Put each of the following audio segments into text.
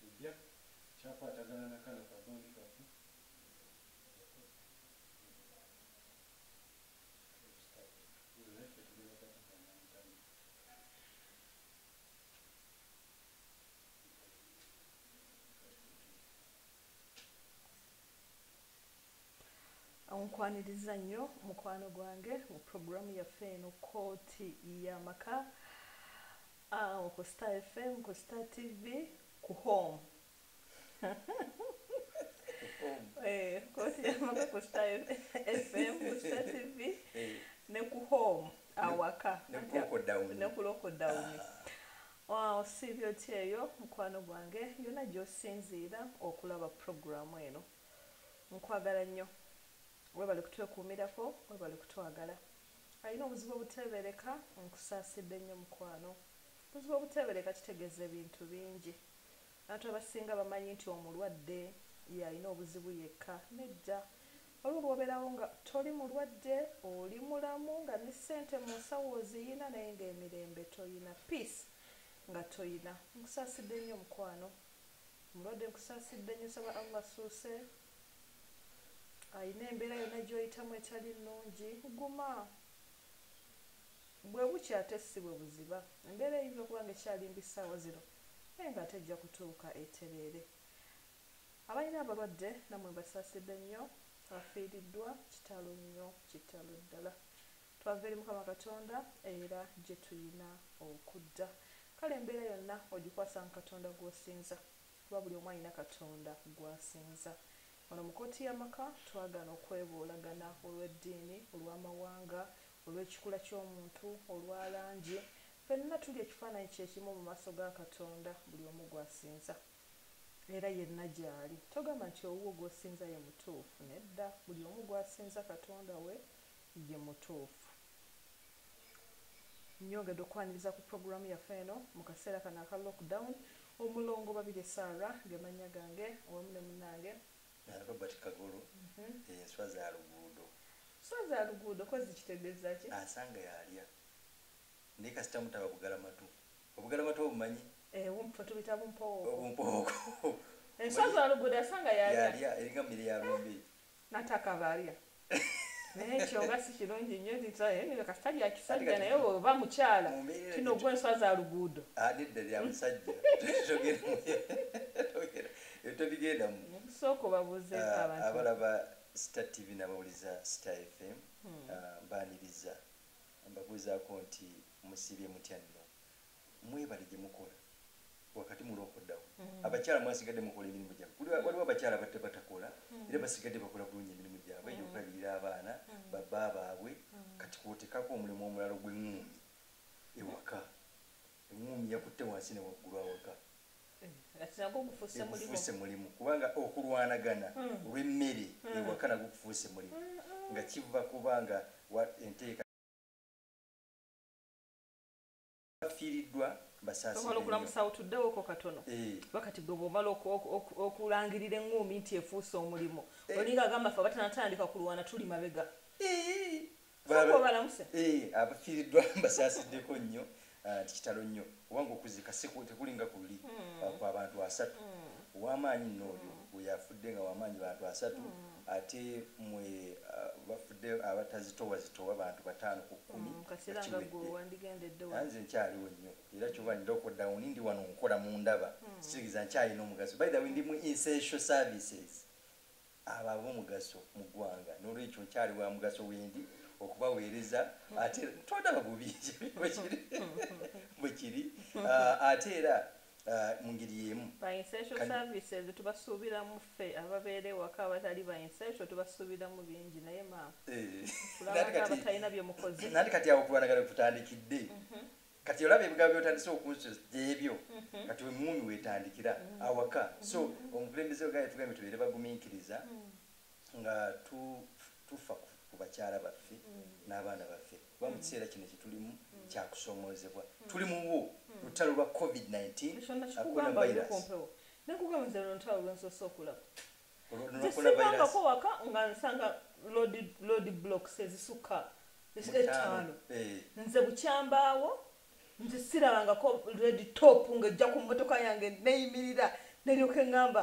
Ejja kyakwatagana na kano ka bond kaffe. nkwaniriza nnyo mukwano gwange mu puroguramu yaffe eno kooti y'amaka Awo ku star fm ku star tv ku home eh, kotyamaka ku star fm ku star tv eh. ne ku home awaka ne ku lockdown waawo siibyo kyeyo mukwano gwange yona gyosinziira okulaba puroguramu eno nkwagala nnyo webale kutwekuumirako webale kutwagala Alina obuzibu obuteebereka, Nkusaasidde nnyo mukwano. Obuzibu obuteebereka kitegeeza ebintu bingi. Abantu abasinga bamanyi nti omulwadde y'alina obuzibu yekka. Nedda. Waliwo lw'obeerawo nga toli mulwadde, oli mulamu nga ne ssente mu nsawo oziyina naye ng'emirembe tolina, peace nga tolina. Nkusaasidde nnyo mukwano. Omulwadde nkusaasidde nnyo. Nsaba Allah assuuse alina embeera yonna gy'oyitamu etali nnungi guma bwe bukya ate si bwe buziba embeera eyinza okuba nga ekyali mbi ssaawa zino naye ng'ate ejja kutuuka etereere abalina abalwadde nammwe mbasaasidde nnyo afiiriddwa kitalo nnyo kitalo ddala twava eri mukama katonda era gye tulina okudda kale embeera yonna ogikwasa mu katonda gw'osinza Kuba buli omu alina Katonda gw'asinza. Wano mu kkooti y'amaka twagaana okwebuulagana olw'eddiini, olw'amawanga, olw'ekikula ky'omuntu, olwa langi. Ffenna tuli ekifaananyi kye kimu mu maaso ga Katonda buli omu gw'asinza. Era yenna gy'ali. Togamba nti owuwo gw'osinza ye mutuufu. Nedda, buli omu gw'asinza Katonda we ye mutuufu. Nyongedde okwaniriza ku program yaffe eno mu kaseera kano aka lock down. Omulongo Babirye Sarah ge mannya gange awamu ne munange. And Robert Kagolo ye nswa za luguudo. Nswa za luguudo kozi kitegeza ki? Asanga yalya. Naye kasita mutaba bugalamatu. Obugalamatu obumanyi? Eh bumpo tubita bumpowooko. Obumpowooko. Enswa za luguudo asanga yalya. Yalya eringa mmere ya lumbe. nataka balya naye ekyo nga si kirungi nnyo ntisaye kasita lya kisajja naye oba mukyala kino gwe enswa za luguudo adidde ah, lya musajja tobigendamu sooka obabuuze ah, abalaba star tv nabawuliza star fm hmm. ah, mbaniriza mbabuuzaako nti musibye mutya nno mwebale gyemukola wakati mulokodawo mm. abakyala mwasigadde mukola emirimu gyabwe kuli mm. waliwo abakyala batte batakola mm. era basigadde bakola bulungi emirimu gyabwe gyokulabirira abaana babba baabwe kati kwotekako omulimu omulalo gwengumi ewaka engumi yakutte wansi newaggulu awaka gufuuse mulimu kubanga okulwanagana olwemmere ewaka nagwo gufuuse mulimu nga kiva kubanga enteeka bafiiriddwa basaasibwe okulamusawo tuddewoko katono eh. bakati gwe bwomala okulangirira eŋŋuumi nti efuuse omulimu eh. olinga agamba fe abatanatandika kulwana tuli mabega eh. balamuse abafiiriddwa basaasiddeko nnyo ah, nti kitalo nnyo obanga okuzika tekulinga kuli hmm. ah, kwabantu asatu hmm. owamaanyi nno oyo hmm. oyo afudde nga wamaanyi bantu asatu ate mwe bafudde abatazitowa zitowa bantu batano ku kumi mm, nze nkyaliwo nnyo era kyoba nda okodauni ndi wano nkola mundaba mm. sitegeza nkyalina omugaso by the way ndi mu insential services abo abomugaso mu ggwanga nolwekyo nkyali wa mugaso wendi okubaweereza mm. ate tondaba bubi bwekiri bwekiri ah, ate era Uh, mu ngeri y'emu tubasuubiramu ffe ababeera ewaka abatali bainsaito tubasuubiramu bingi naye maabatalina eh. byemukoze nandi kati awo kulwanagana kutandikidde mhm. kati olaba ebigambo byotandise okunsoebyo mhm. kati wemuumi wetandikira mhm. awaka so omukulembeze ogaye tugambye tubeere bagumiikiriza nga tufa ku bakyala baffe n'abaana baffe kuba mu kiseera kino kyetulimu kyakusoomoozebwa tuli muwo lutalo lwa covid-19 waka nga nsanga lod blocks ezisukka ettaano eh. nze bukyambaawo nze sirabangako red top ng'ejja ku mmotoka yange neyimirira neryoka eŋŋamba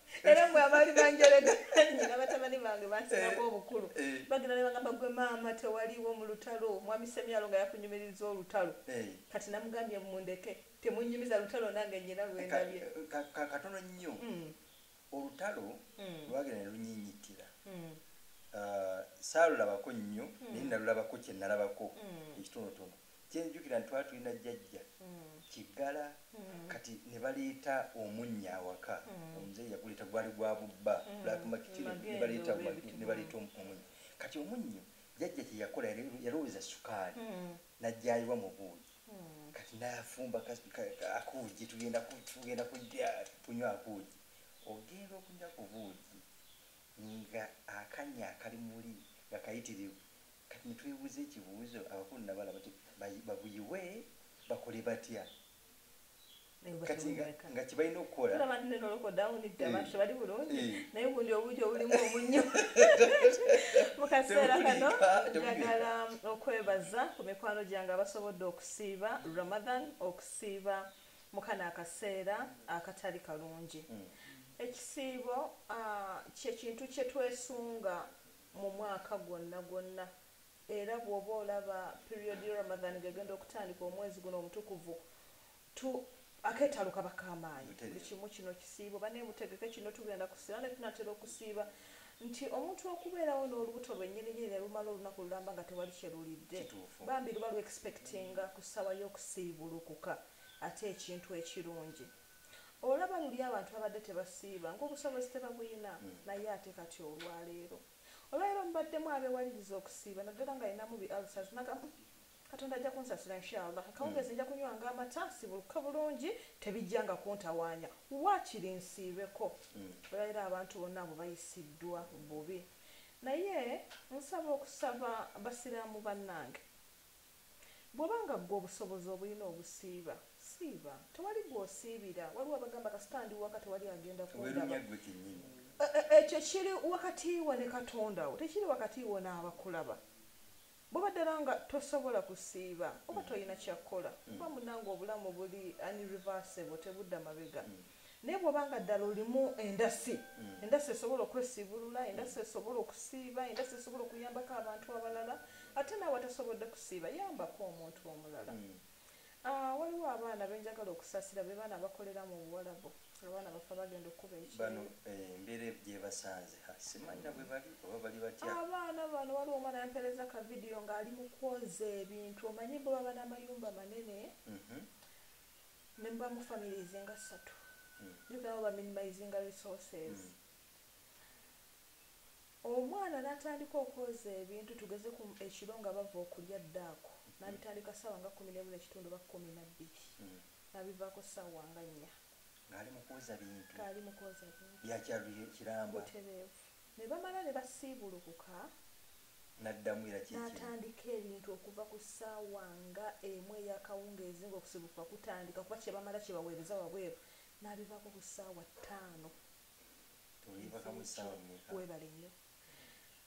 era mwe abaali banjerega nyina batabani bange bansinako eh, obukulu eh. bagenda ne bagamba gwe maama tewaliwo mu lutalo mwami semyalo nga yakunyumiriza olutalo eh. kati namugambye mundeke temunyumiza lutalo nange nyina lwendabye katono nnyo mm. olutalo mm. lwagenda ne lunyinyitira mm. ah, saalulabako nnyo naye nalulabako kyenalabako ekitonotono kyenjukira nti twali tulina jjajja kiggala kati ne baleeta omunnya awaka omuzeeyi yaguleeta gwali gwa bubba black market ne- ne baleeta omu- ne baleeta omu- omunnyo kati omunnyo jjajja kye yakola yalo- yalowooza sukaali n'ajjayiwa mu buugi kati n'afumba ka- ka- ka- akuugi tugenda ku- tugenda kulya kunywa akuugi ogenda okunywa ku buugi nga akanya akali muli nga kayitirivu Kati netwebuza ekibuzo abakulu nabala bati babuyiwe bakole batya kati nga kibalina okukola tulaba nti neno loko down dda abantu eh. tebali bulungi eh. naye gundi obuja obulimu omunyo mu kaseera kano njagala okwebaza ku mikwano gyange abasobodde okusiiba ramadan okusiiba mukano akaseera akatali kalungi mm. ekisiibo ah, kyekintu kyetwesunga mu mwaka gwonna gwonna era bwoba olaba period ye Ramadhan nga egenda okutandika omwezi guno omutukuvu tu aketalo kaba kamaanyi buli kimu kino kisiibo bane mutegeke kino tugenda kusiiba ne tunatera okusiiba nti omuntu okubeerawo n'olubuto lwe nyini nyini ne lumala olunaku lulamba nga tewali kye lulidde bambi luba lu expectinga ku ssaawa y'okusiibulukuka ate ekintu ekirungi olaba luli abantu babadde tebasiiba ngaobusobozi tebabuyina hmm. naye ate kati olwaleero olwaleero mubaddemu abewaliriza okusiiba naddala nga yinamu bi alsas nagamu katonda ajja kunsasira inshallah akawungezi hmm. nja kunywanga amata sibuluka bulungi tebijjanga kuntawaanya waakiri nsiibeko hmm. olwaleero abantu bonna abo bayisiddwa bubi naye nsaba okusaba basiraamu bannange Bwoba nga gwe obusobozi obulina obusiiba siiba tewali gwosiibira waliwo abagamba kasita ndi waka tewali agenda kundaba ekyo kiri wakatiiwo ne katondawo tekiri wakatiiwo n'abakulaba bwoba ddala nga tosobola kusiiba oba tolina kyakkola kuba munange obulamu buli unreversible tebudda mabega. naye bwoba nga ddala olimu endasi mm. endasi esobola okwesiibulula endasi esobola okusiiba endasi esobola okuyambako abantu abalala ate naawe atasobodde kusiiba yambako omuntu omulala mm. ah, waliwo abaana benjagala okusasira be baana bakolera mu buwalabu abaana bafa bagenda okukuba ekibano eh, embeera gyebasanze simanyina bwe bali oba bali batya abaana bano waliwo omwana yampereza ka vidiyo ng'ali mu kwoza ebintu omanyi bwe baba n'amayumba manene mhm. ne muba mu families nga ssatu you can over minimizinga resources omwana natandika okwoza ebintu tugeze ku ekiro nga bava okulya ddaako nabitandika sawa nga kumi nemu nekitundu ba kumi nabbiri nabivaako sawa nga nnya ngali mukwoza bintu ngali mukwoza bintu byakyalukiramba butereevu Ne bamala ne basiibulukuka. N'addamu era kye kimu. N'atandika ebintu okuva ku ssaawa nga emu ey'akawungeezi nga okusiibulukuka kutandika, okuba kye bamala kye baweereza wabweru, n'abivaako ku ssaawa ttaano ez'ekiro. Weebale nnyo.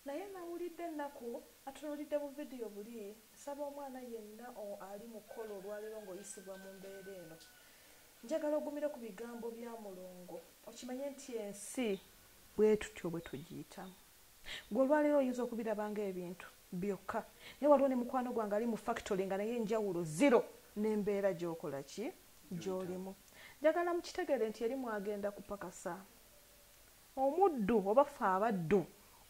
Naye nnawulidde ennaku. Atunuulidde bu vidiyo buli. Nsaba omwana yenna o, ali mu kkola olwaleero nga oyisibwa mu mbeera eno, njagala ogumire ku bigambo bya mulongo, okimanye nti ensi Bwe tutyo bwe tugiyitamu. Ggwe olwaleero oyinza okubiraba nga ebintu, byokka. Naye waliwo ne mukwano gwange ali mu fakitole nga naye enjawulo ziro n'embeera gy'okola ki? Gy'olimu. Njagala mukitegeere nti eri mw'agenda kupakasa. Omuddu, oba ffe abaddu,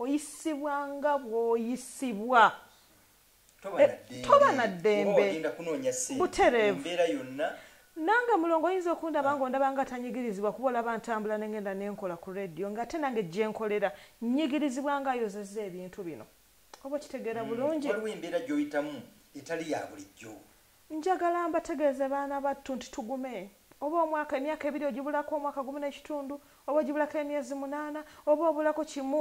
oyisibwa nga bw'oyisibwa. toba na ddembe butereevu nange mulongo oyinza okundaba nga ondaba nga tanyigirizibwa kuba olaba ntambula nengenda nenkola ku radio nga ate nange gyenkolera nyigirizibwa nga ayozeza ebintu bino oba okitegeera mm, bulungi waliwo embeera gyoyitamu etali ya bulijjo njagala mbategeeze baana battu nti tugume oba omwaka emyaka ebiri ogibulako omwaka gumu n'ekitundu oba ogibulako emyezi munaana oba obulako kimu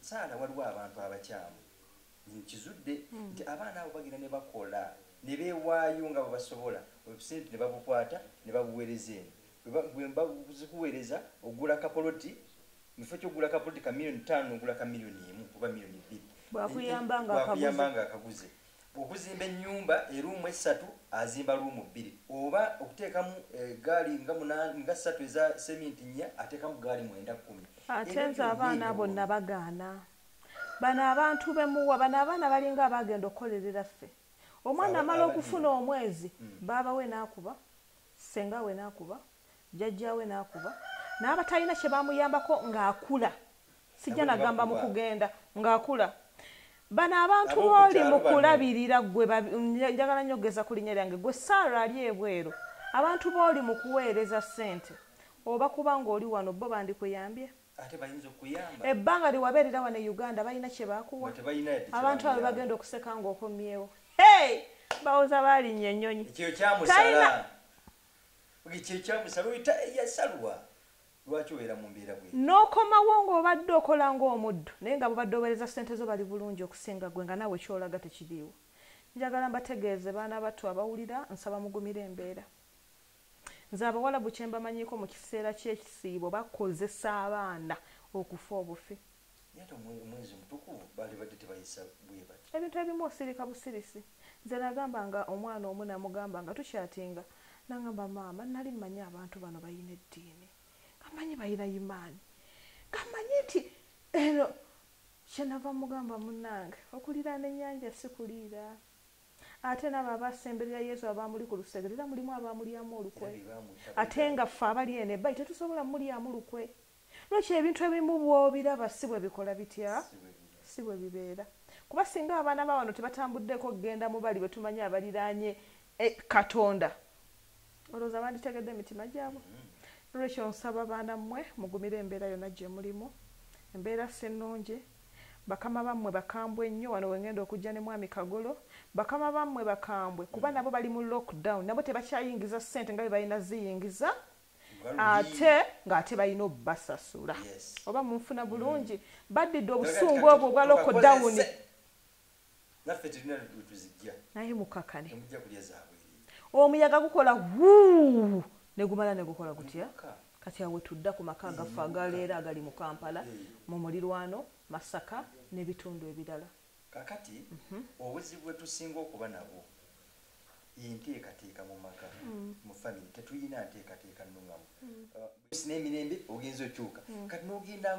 saala waliwo abantu abakyamu nkizudde hmm. nti abaana abo bagenda ne bakola ne beewaayo nga bwe basobola obusente ne babukwata ne babuweereza eno bwebazikuweereza ogula kapoloti mukifo kyokugula kapoloti ka miliyoni ttaano ogula ka miliyoni emu oba miliyoni bbiri bwakuyamba nga akaguze Okuzimba ennyumba eruumu essatu azimba luumu bbiri oba okuteekamu eggaali nga munaana nga ssatu eza seminti nnya ateekamu ggaali mwenda kkumi. Ate nze abaana abo nnabagaana. Bano abantu be muwa bano abaana balinga abaagenda okukolerera ffe. Omwana amala okufuna omwezi baaba we n'akuba, ssenga we n'akuba, jjajjaawe n'akuba n'abatalina kye baamuyambako ng'akula. sijja nagamba mu kugenda ng'akula bano abantu booli mu kulabirira gwe njagala nnyo okugeza ku linnya lyange gwe saara ali ebweru abantu booli mu kuweereza ssente oba kuba ng'oli wano bo bandikuyambye ebbanga liwabeerera wano e uganda balina kye baakuwa abantu abo bagenda okuseka ng'okomyewo hey! bawoza baalinya ennyonyi ekyo kyamusala ekyo kyamusala oyita eyasalwa Lwaki obeera mu mbeera bw'etyo? N'okomawo ng'obadde okola ng'omuddu, naye nga b'obadde oweereza ssente zo bali bulungi okusinga ggwe nga naawe ky'olaga tekiriiwo. Njagala mbategeeze baana battu abawulira, nsaba mugumire embeera. Nze Abawalabu kye mbamanyiiko mu kiseera ky'ekisiibo bakozesa abaana okufa obufi. ebintu ebimu osirika busirisi nze nagamba nga omwana omu namugamba nga tukyatinga nangamba maama nali manyi abantu bano bayina eddiini gamanyi bayina imaani gamanyi nti eno kyenava mugamba munange okuliraana enyanja si kuliira ate nabo abasemberera yesu abamuli ku lusegere era mulimu abamulyamu olukwe ate nga ffe abali ene bayi tetusobola mulyamu lukwe Lwaki ebintu ebimu bw'obiraba si bwe bikola bitya? Si bwe bibeera. Kuba singa abaana ba wano tebatambuddeko kugenda mu bali be tumanyi abaliraanye e, Katonda, olowooza banditegedde emitima gyabwe? Nolwekyo nsaba baana mmwe mugumire embeera yonna gye mulimu. Embeera si nnungi. Bakama bammwe bakambwe nnyo. Wano we ngenda okujja ne Mwami Kagolo. Bakama bammwe bakambwe kuba nabo bali mu lockdown. Nabo tebakyayingiza ssente nga bwe balina ziyingiza. ate ng'ate balina obubasasula oba munfuna mm. bulungi baddidde obusungu obwo obwa loko dawuni naye mukakane omuyaga gukola wuu negumala negukola gutya kati awe tudda ku maka agaffe agaleero agali mu kampala mu mulirwano masaka n'ebitundu ebirala Kakati obuzibu bwetusinga okuba nabwo yenteekateeka mumaka mu family tetuyina nteekateeka nungamu ensi nemirembe ogenze okyuka kati nogenda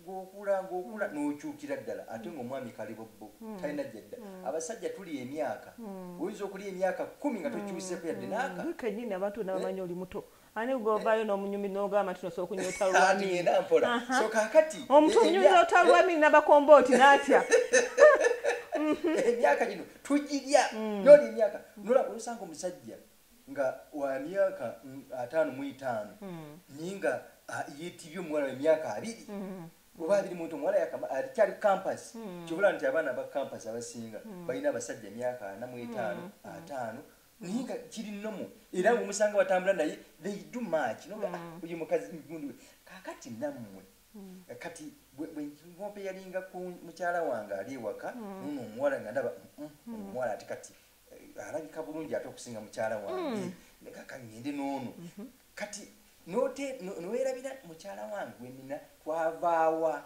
ngokula ngokula nokyukira ddala ate nga omwami kalibobbo talina jadda abasajja tuli emyaka oyinza okulya emyaka kumi nga tokyuseeko yadde naaka. Gwe kenyini abantu bona bamanyi oli muto. ani gwovayo nomunyumi nogamba nti nosobola okunyota lwamiomuntu omunyumiza ota lwamini nabakombooti natya emyaka gino tugirya mm. noli emyaka nolaba osanga omusajja nga wa myaka mm, ataano mu etaano mm. naye nga yetibye omuwala wemyaka abiri oba abiri muntu omuwala alikyali campas kibula nti abaana ba campas abasinga balina abasajja emyaka ana mu etaano ataano naye nga kiri nomo era ngaomusanga batambula naye they do much no ah, mm. oyo mukazi migundi we kakati nammwe mm. kati bwenkope yalinga ku mukyala wange ali ewaka mm. nono omuwala nga ndaba omuwala ati kati eh, alabika bulungi ate okusinga mukyala wange nekaka ngende noono mm-hmm. kati nowerabira mukyala wange wenina twavaawa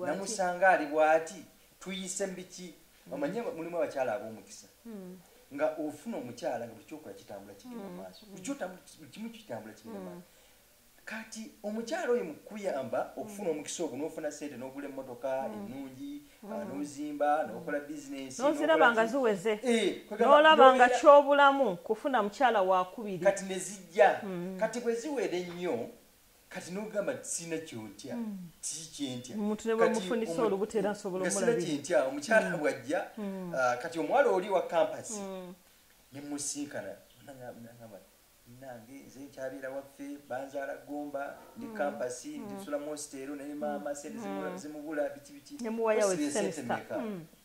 namusanga ali bwati tuyise mbiki omanyi hmm. mulimu abakyala ab'omukisa hmm. nga ofuna omukyala nga buli kyokola kitambula kigenda hmm. maaso buli kimu kitambula kigenda maaso kati omukyala oyo mukuyamba okufuna omukisa ogwo nofuna sente nogula emotoka enungi ah, nozimba nokola bizinesioziraba nga ziweze eh, nolaba nga kyobulamu kufuna mukyala wakubiri kati nezijja kati bweziwera ennyo kati nogamba tisina kyontya mm. tiki kyentya omuntu ne bwemufunisa olubuto era nsobola omulabira sina kyentya omukyala mm. bwajja mm. ah, kati omuwala oli wa kampasi ne musinkana nangamba nange nze nkyabeera waffe banzaala gomba ndi kampasi ndisula mositeero naye maama sente zimubula biki biki nemuwayawe sente meka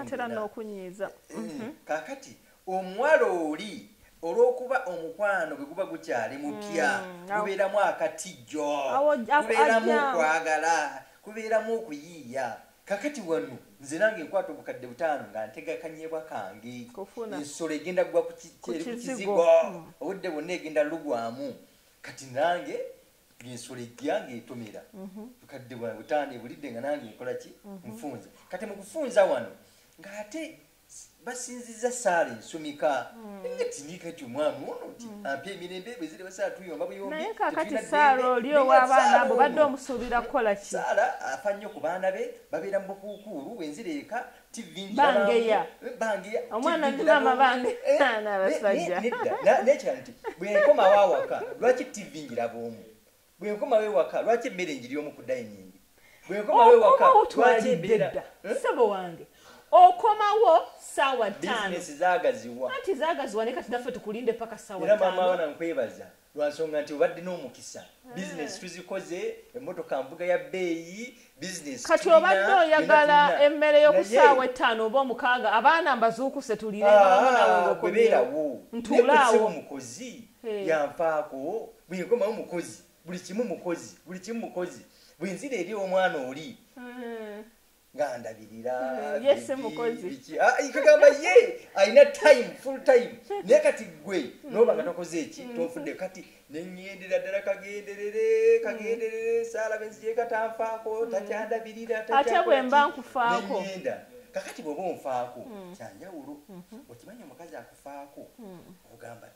atera n'okunyiiza eh, eh, mhm. kakati omuwala oli olwokuba omukwano bwe guba gukyali mupya mm, gubeeramu akatijjo gubeeramu okwagala gubeeramu okuyiiya kakati wano nze nange nkwata obukadde butaano nga ntega kanyebwa kange ensolo egenda kugwa ku kizigo mm. obudde bwonna egenda lugwamu kati nange ensolo ejja ng'etomera mhm. bukadde bwa butaano ebulidde nga nange nkola ki mhm. nfunza kati mu kufunza wano ng'ate basinziza saala ensumika mm. etindiika ti omwami ono nti mm. ampa emirembe bwe ziri basaala tuyomba buyombiaye kakati saala oli ow'abaana abo badde omusuubira kukola ki saala afa nnyo ku baana be babeera mu bukuukuulu bwenzira eka bangeya omwana ndi maama bange eh, n'abasajja nekirala nti bwenkomawo awaka lwaki tv ngiraba omu bwenkomawo ewaka lwaki emmere ngiri omu ku dayiningi bwenkomawo ewaka lwaki embeera eh? sebo wange okomawo sawa tano zagaziwa anti zagaziwa ne kati naffe tukulinde paka sawa tano era mama wana nkwebaza lwansonga nti obadde n'omukisa eh. bizinesi tuzikoze emotoka mbuga ya bbeeyi bizinesi kati obadde oyagala emmere y'okusaawa ettaano oba omukaaga abaana mbazuukuse tulirebeerawo ah, ntuulaawo mukozi eh. yanfaako bwenkomawo mukozi buli kimu mukozi buli kimu mukozi bwenzira eri omwana oli eh. nga ndabirira mm, ye si mukozi ah, kugamba ye alina time full time naye kati gwe mm. noba nga tokoze eki mm. tonfudde kati nenyendera ddala kagenderere kagenderere saala benzijekatanfaako takyandabirira ate bwemba nkufaako kakati bwoba onfaako kyanjawulo mm-hmm. okimanyi omukazi akufaako ogamba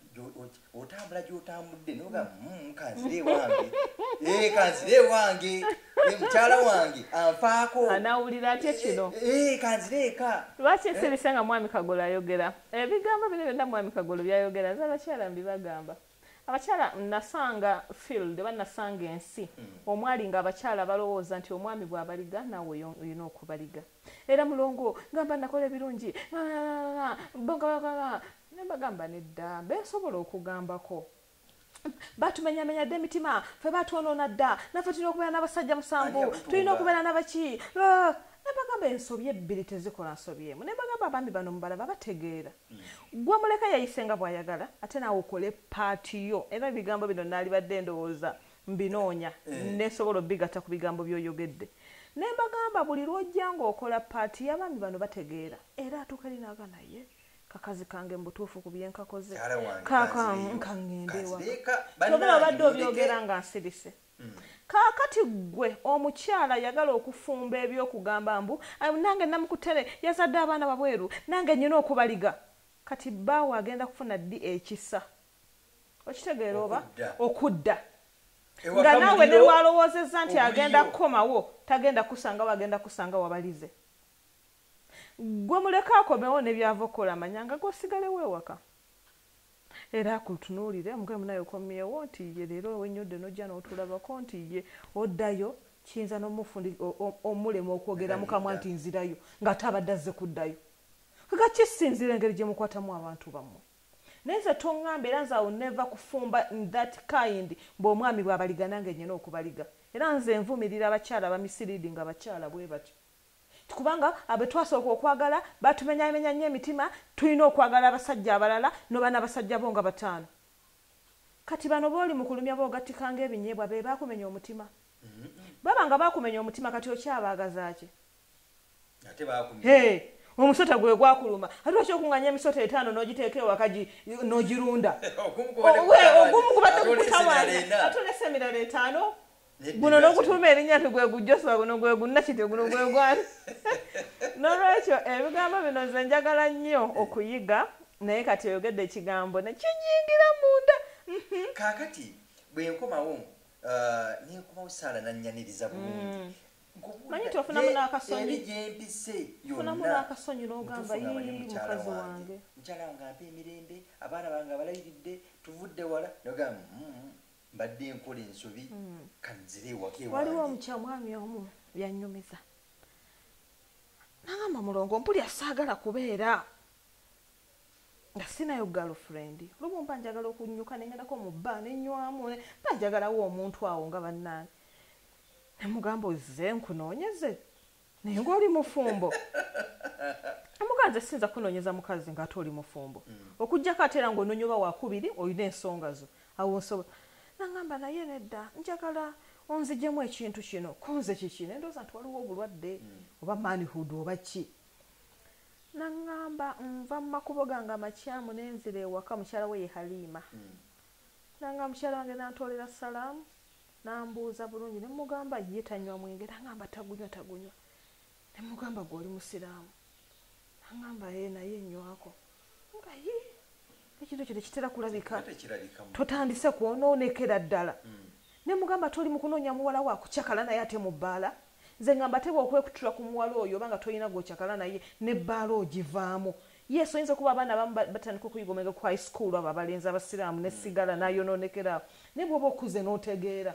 otambula gyotambudde noga mm, kanzire wange eh, kanzire wange eh, mukyala wange anfaako anawulira atya eh, kino kanzire eka lwaki esirisa nga mwami kagolo ayogera ebigambo bino byonna mwami kagolo byayogera nze abakyala mbibagamba abakyala nasanga field oba nasanga ensi hmm. omwali nga abakyala balowooza nti omwami bwabaliga nawe oyina okubaliga era mulongo ngamba nakola ebirungi nembagamba nedda besobola okugambako batumenyamenya dda emitima fe batwonoona dda naffe tulina okubeera n'abasajja musanvu tulina okubeera nabaki nebagamba ensobi ebbiri tezikola nsobi emu nebagamba abaami bano mubalaba bategeera mm. gwe muleka yayise nga bwayagala ate naawe okole paati yo era ebigambo bino naalibadde endowooza mbinoonya eh. nesobola obigatta ku bigambo byoyogedde ne mbagamba buli lwojja ngaokola paati y'abaami bano bategeera era atuuka eri naaga naye kakazi kange mubutuufu ku byenkakoze kakankangendewaobera obadde obyogera nga nsirise hmm. kaakati ggwe omukyala yagala okufumba ebyokugamba mbu nange namukutere yazadde abaana babweru nange nyina okubaliga kati bbaawe agenda kufuna ddi ekisa okitegeera oba okudda nga naawe ne lwalowoozezza nti agenda kukomawo tagenda kusangawo agenda kusanga wabalize gwe muleke akomewo ne byava okukola amanyanga gosigalewo ewaka era akutunuulire mugee munaye okomyewo nti ye leero wenyodde nojja n'otulabako nti ye oddayo kiyinza n'omufundi omulema okwogera mukamwa nti nzirayo ng'ate abadde azze kuddayo kaka kisinzira engeri gye mukwatamu abantu bammwe naye nze tongamba era nze awo neva kufumba that kind mbu omwami bwabaliga nange nyina okubaliga era nze nvumirira abakyala bamisiridi nga bakyala bwe batyo kubanga abetwasooka okwagala batumenyamenya nnyo emitima tulina okwagala abasajja abalala noba nabasajja bo nga bataano kati bano booli mukulumya bogattikanga ebinyeebwa be bakumenya omutima mm-hmm. baba nga bakumenya omutima kati okyabaagazaki omusota gwe gwakuluma ati lwaki okunganya emisota etaano n'ogiteeka ewaka n'ogirunda ogumu kubadde kukutawaanya ate olesa emirala etaano guno n'okutuuma erinnya nti gwe gujoswa guno gwe gunnakite guno gwe gwani n'olwekyo ebigambo bino nze njagala nnyo okuyiga naye kati oyogedde ekigambo nekinyingira munda mhm. kakati bwenkomawo uh, nenkomawo saala nanyaniriza bulungi mm. manyi nti ofunamu n'akasonyifunamu n'akasonyi n'ogamba mukazi wange mukyala wange ampa emirembe abaana bange abalayiridde tuvudde wala nogamba mm-hmm, mbadde enkola ensobi mm. kanzire ewaka ewange waliwo omukyamwami omu byanyumiza nagamba mulongo mpuli asaagala kubeera nga sinayo girlfriend olumu mba njagala okunyuka nengendako mu bba nenywamu mba njagalawo omuntu awo nga bannange namugamba ozze nkunoonyeze naye ngaoli mufumbo amuga nze siyinza kunoonyeza mukazi ngaate oli mufumbo mm. okujjako ate era ngaonoonya oba wakubiri olina ensonga zo awo nsobola nangamba naye nedda njagala onzijemu ekintu kino kunze kiki nendooza nti waliwo obulwadde mm. oba manhood oba ki nangamba nva mu makubo gange amakyamu nenzira ewaka mukyala we ye haliima mm. nanga mukyala wange nantoolera salaamu N'ambuuza bulungi ne mmugamba ye tanywa mwenge n'angamba tagunywa tagunywa ne mmugamba gwe oli Musiraamu n'angamba ee naye nywako nga yii ekintu ekyo tekitera kulabika totandise kwonoonekera ddala hmm. ne mmugamba toli mu kunoonya muwala wa kucakala naye ate mu bbaala mm. Nze ngamba teba okwekutula ku muwala oyo oba nga tolina gwokyakala naye ne bbaala ogivaamu. Yes oyinza okuba abaana abamu batandika okuyiga omwenge ku high school abo abalenzi abasiraamu ne sigala nayonoonekera awo naye bwoba okuze notegeera.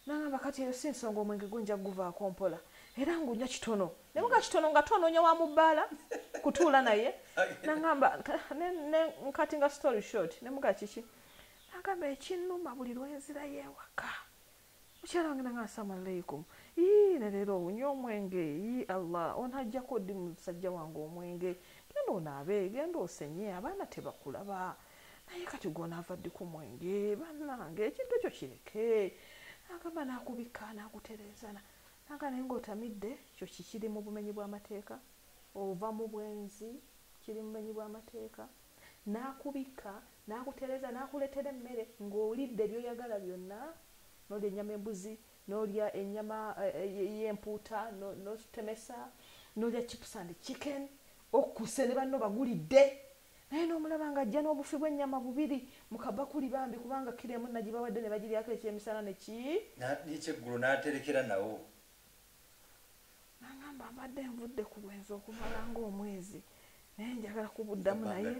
Nangamba kati eyo si nsonga omwenge gwo nja kuguvaako mpola era ngunywa kitono ne muga kitono ngate onoonya wa mu bbaala kutuula naye nangamba nkati nga story short ne muga kiki nagamba ekinnuma buli lwenzirayo ewaka mukyala wange nange asama aleikum ii ne leero onywa omwenge ii allah onhajjako ddi musajja wange omwenge genda onaabe genda osenye abaana tebakulaba naye kati gwonaava ddi ku mwenge bannange ekintu ekyo kireke agamba nakubikka nagutereezana naga naye ngaotamidde kyo kikiri mu bumenyi bw'amateeka ova mu bwenzi kiri mumenyi bw'amateeka n'akubikka, n'akutereeza, n'akuleetera emmere ng'olidde by'oyagala byonna, n'olya ennyama embuzi, n'olya ennyama y'empuuta n'ozitemesa, n'olya chips and chicken, okkuse ne banno bagulidde naye n'omulaba ng'ajja n'obufi bw'ennyama bubiri mu kabakuli bambi kubanga kkiro emu nagibawadde ne bagiryako ekyemisana ne ki. N'ekyeggulo n'aterekera nawo nangamba mbadde nvudde ku bwenzi okumala ngaomwezi naye njagala kubuddamu naye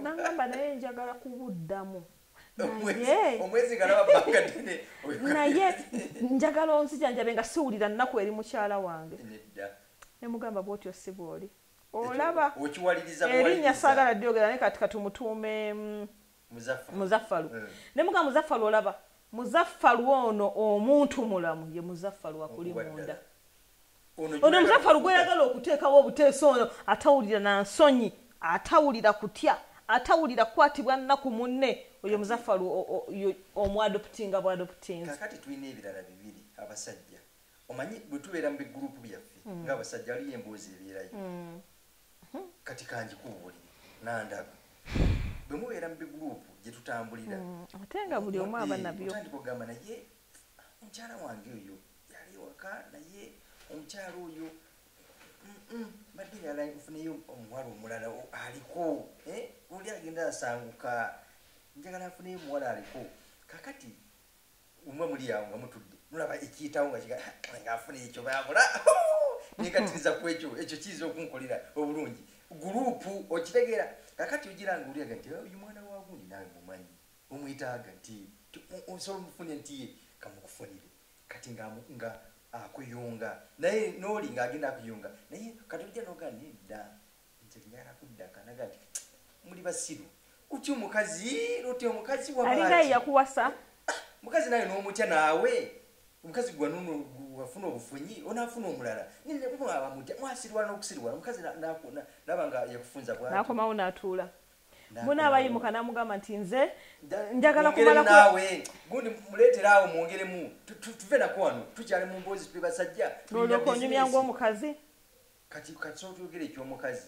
nangamba naye njagala kubuddamu naye njagala onzijanjabe nga siwulira nnaku eri mukyala wange nemugamba bwotyo si bwoli olaba erinnya saagala lyogera naye kati katumutuume mm, muzaffalu eh. ne muga muzaffalu olaba muzaffalu ono omuntu mulamu ye muzaffalu akuli munda ono muzaffalu gweyagala okuteekawo obuteesa ono atawulira na nsonyi atawulira kutya atawulira kukwatibwa nnaku munne oyo muzaffalu omwadoputinga bwadoputinzi kakati tulina ebirala bibiri abasajja omanyi bwe tubeera mu bigurupu byaffe hmm. ng'abasajja aliyo emboozi ebeerayo hmm. kati kangikuubulire nandaba bwe mubeera mu biguruupu gye tutambulira mm, ate nga buli omu aba nabyo otandika okugamba naye omukyala wange oyo yali ewaka naye omukyala oyo mbadde yala nfuneyo omuwala omulala aliko eh, oli agenda asanguka njagala nfuneyo omuwala aliko kakati umwe muli yawo nga mutudde mulaba ekiyitawo nga kiga nga afuna ekyo babula nekatiriza ku ekyo ekyo kiyinza okunkolera obulungi gurupu okitegeera kakati ogira nga oliaga nti oh, oyo mwana wagundi nawe mumanyi omwetaaga nti osobola omufune nti ye kamukufunire kati nga nga akuyunga naye noli nga agenda akuyunga naye kati oja noga nedda nze ngala kudda kanaga nti muli basiru kutya omukazi lotya omukazi walinga yakuwasa mukazi naye n'omutya naawe omukazi gwanuno wafuna obufunyi onaafuna omulala nneabamutya mwasirwa n'okusirwa omukazi naba nga yakufunza bwanakomawo n'atuula muna abayimuka namugamba nti nze njagala kumalawe gundi muleetera awo mwongeremu tuve nako wano tukyali mu mboozi tube basajja nolyoka onyumya ngaomukazi Kati katusooka tuyogere ekyomukazi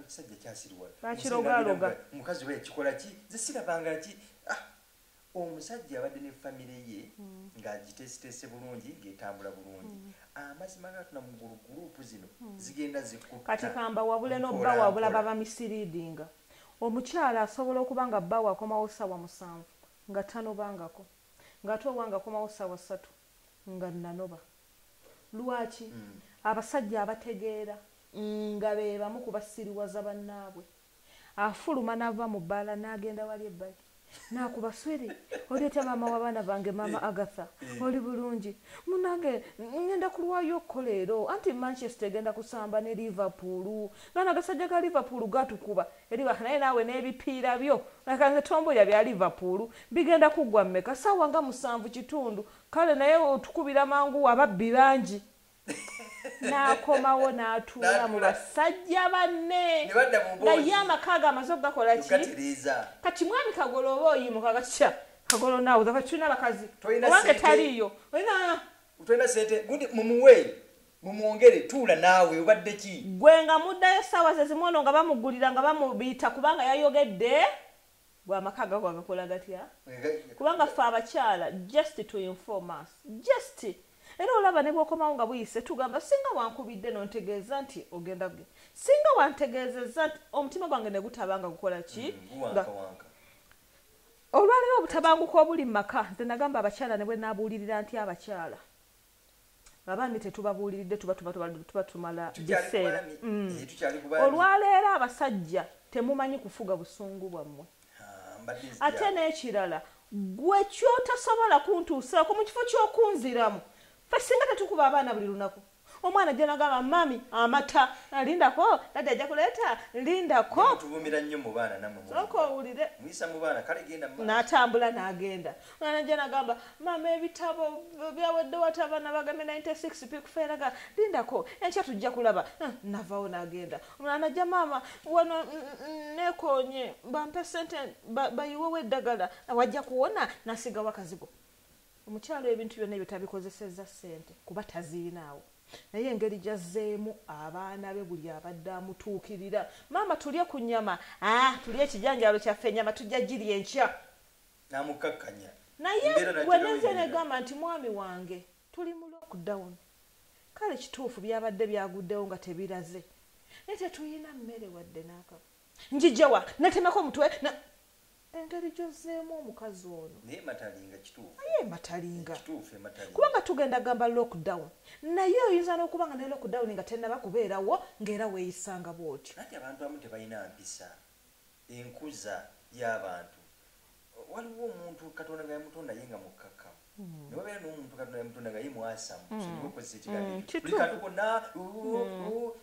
kisajja kyasiriwala bakirogaloga mukazi oba yakikola ki nze sirabanga ki ah, omusajja abadde ne famire ye mm. ng'agiteeseteese bulungi ng'etambula bulungi mm. amazima gatuna mu gulu gurupu zino mm. zigenda zikutta kati kamba wabule nobba wabula baba misiriidinga omukyala asobola okuba nga bba wakomawo ssaawa musanvu nga tanobangako ng'ate owange akomawo ssaawa ssatu nga nanoba lwaki mm. abasajja abategeera nga bebamu kubasiriwaza bannaabwe afuluma nava mu bbaala n'agenda wali ebbali nakuba swiri oli otya maama wabaana bange maama eh. agatha eh. oli bulungi munange ngenda kulwayo okko leero anti manchester egenda kusamba ne liverpool nga nagasajja ga liverpool gatukuba Eriwah naye naawe nebipiira byo leka nze tombulira bya Liverpool bigenda kuggwa mumeka saawa nga musanvu kitundu kale naye otukubira mangu ababbi bangi n'akomawo n'atuula mu basajja banne naye amaka ge amaze okugakola ki kati mwami kagolo oba oyimuka gatya kagolo naawe kati tulina abakazi owange taliiyo olina Utwena sente gundi mumuwe mumwongere tuula naawe obadde ki gwe nga muddayo ssaawa ze zimu ono nga bamugulira nga bamubiita kubanga yayogedde gwe amaka gago agakola gatya kubanga ffe abakyala just to inform us just era olaba ne bwokomawo nga buyise tugamba singa wankubidde nontegeeza nti ogenda ge singa wantegeezezza nti omutima gwange ne gutaba nga gukola ki mm, nga Olwaleero obutabanguko obuli mu maka nze nagamba abakyala ne bwe nabuulirira ntya abakyala abaami tetubabuuliridde tuba tuba tumala biseera mm. eh, olwaleero abasajja temumanyi kufuga busungu bwammwe ate n'ekirala gwe kyotasobola kuntuusaako mu kifo ky'okunziramu fe singa tetukuba abaana buli lunaku omwana ajja nagamba mami amata ah, lindako dadi ajja kuleeta lindakosoka owulire natambula nagenda omwana ajja nagamba mama ebitabo byawedde wati abaana bagambe 96 pikufeeraga lindako enkya tujja kulaba ah, navawo nagenda omwana najja maama wano mm, mm, mm, nekonye bampe sente bayiwewo eddagala wajja kuwona nasigawo akazigo omukyalo ebintu byonna ebyo tabikozesezza ssente kuba taziinaawo naye engeri gyazzeemu abaana be buli abadde amutuukirira maama tulye ku nyama ah, tulye ekijanjalo kyaffe enyama tujja girya enkya namukkakkanya naye wenenze negamba nti mwami wange tuli mu lockdown kale kituufu byabadde byaguddewo nga tebiraze naye tetuyina mmere wadde naaka njijawa natemako omutwe engeri gyozzeemu omukazi ono naye matalinga kituufu naye matalinga kituufu ematalinga kubanga tugenda gamba lockdown naye oyinza n'okuba nga ne lockdown nga tennaba kubeerawo ng'era weeyisanga bw'otyo anti abantu abamu tebalina mpisa enkuza y'abantu waliwo omuntu katonda nga yamutonda ye nga mukkakkamu hmm. ne wabeera n'omuntu katonda yamutonda nga ye mwasamu hmm. sonyiwa okozesa ekigambo hmm, kikuli kati konna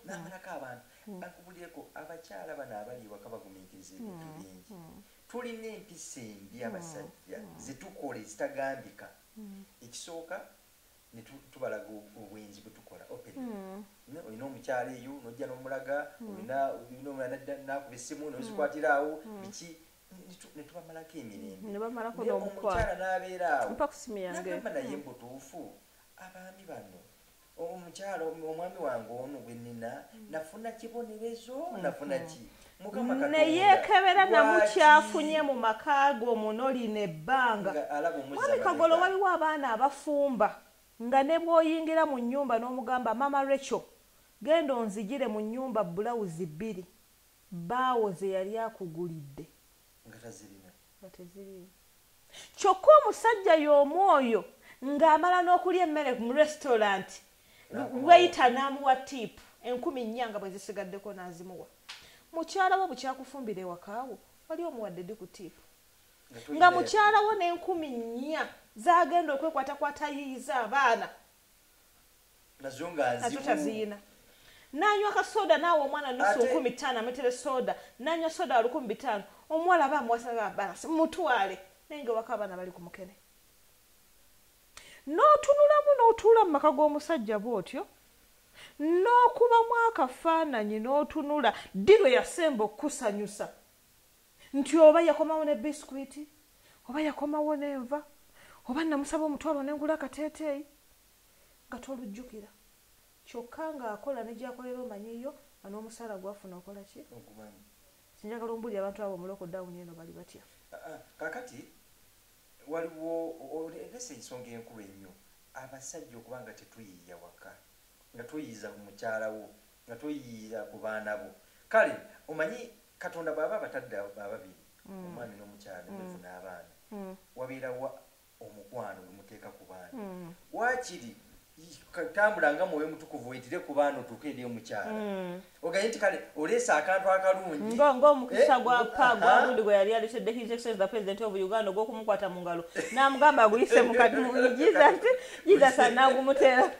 n'amalako abantu Bakubulyeko abakyala bano abali ewaka baguminkiriza ebintu bingi. Tulina empisa embi abasajja zetukola ezitagambika. Ekisooka ne tubalaga obwenzi bwetukola openly. Olina omukyala eyo nojja nomulaga olina olina omulala nadda nakuba essimu nozikwatira awo biki ne tubamalako emirembe. Ne bamalako n'omukwano. Naye omukyala n'abeera awo. Mpa ku ssimu yange. N'agamba naye mbutuufu abaami bano. omukyalo omwami wange ono gwe nina nafuna kibonerezo mm-hmm. nafuna ki neyekebera namukyafunye mu maka ge omuno lino ebbanga mwami kagolo waliwo abaana abafumba nga ne bwoyingira mu nyumba n'omugamba mama recho genda onzijire mu nyumba bulawuzi bbiri baawo ze yali akugulidde nga teziriimu kyokka omusajja y'omu oyo ng'amala n'okulya emmere mu restaurant weyita n'amuwa tiipu enkumi nnya nga bwe zisigaddeko n'azimuwa mukyala wo bukyakufumbira ewakaawo wali omuwadde di ku tiipu nga mukyala wo n'enkumi nnya zagenda okwekwatakwata yiyiza abaana nazo ngaziyina nanywa kasoda nawe omwana nusu nkumi tano ametere soda nanywa soda walukumi bitano omuwala aba amuwasanga balasi mutwale naye nga waka abaana bali ku mukene n'otunulamu n'otuula mu maka g'omusajja bw'otyo n'okubamu akafaananyi n'otunula ddi lwe yasemba okukusanyusa nti oba yakomawo ne biscuit oba yakomawo nenva oba namusaba omutwalo nengula akateeteeyi nga tolujjukira kyokka ng'akola ne gyakolera omanyiyo nga n'omusaala gwafuna okola ki sinjagala ombulira abantu abo omuloko dawuni eno bali batya ah, ah, kakati waliwo olese ensonga enkulu ennyo abasajja okuba nga tetuyiiya waka nga tuyiiza mukyalawo nga toyiira ku baana bo kale omanyi katonda bwaba abatadde ababiri mm. omwami n'omukyala mm. mufuna abaana mm. wabeerawa omukwano gwemuteeka ku baana mm. wakiri tambula nga mwoyo mutukuvu wetire ku baana otuuke eri omukyala mm. oganye nti kale oleese akantu akalungi ngaomukisa eh, gwa pa gwagundi gwe yali alesedde his excellence the president of uganda ogwokumukwata mu ngalo n'amugamba aguyise mukati mu jesus jesus anagumuteera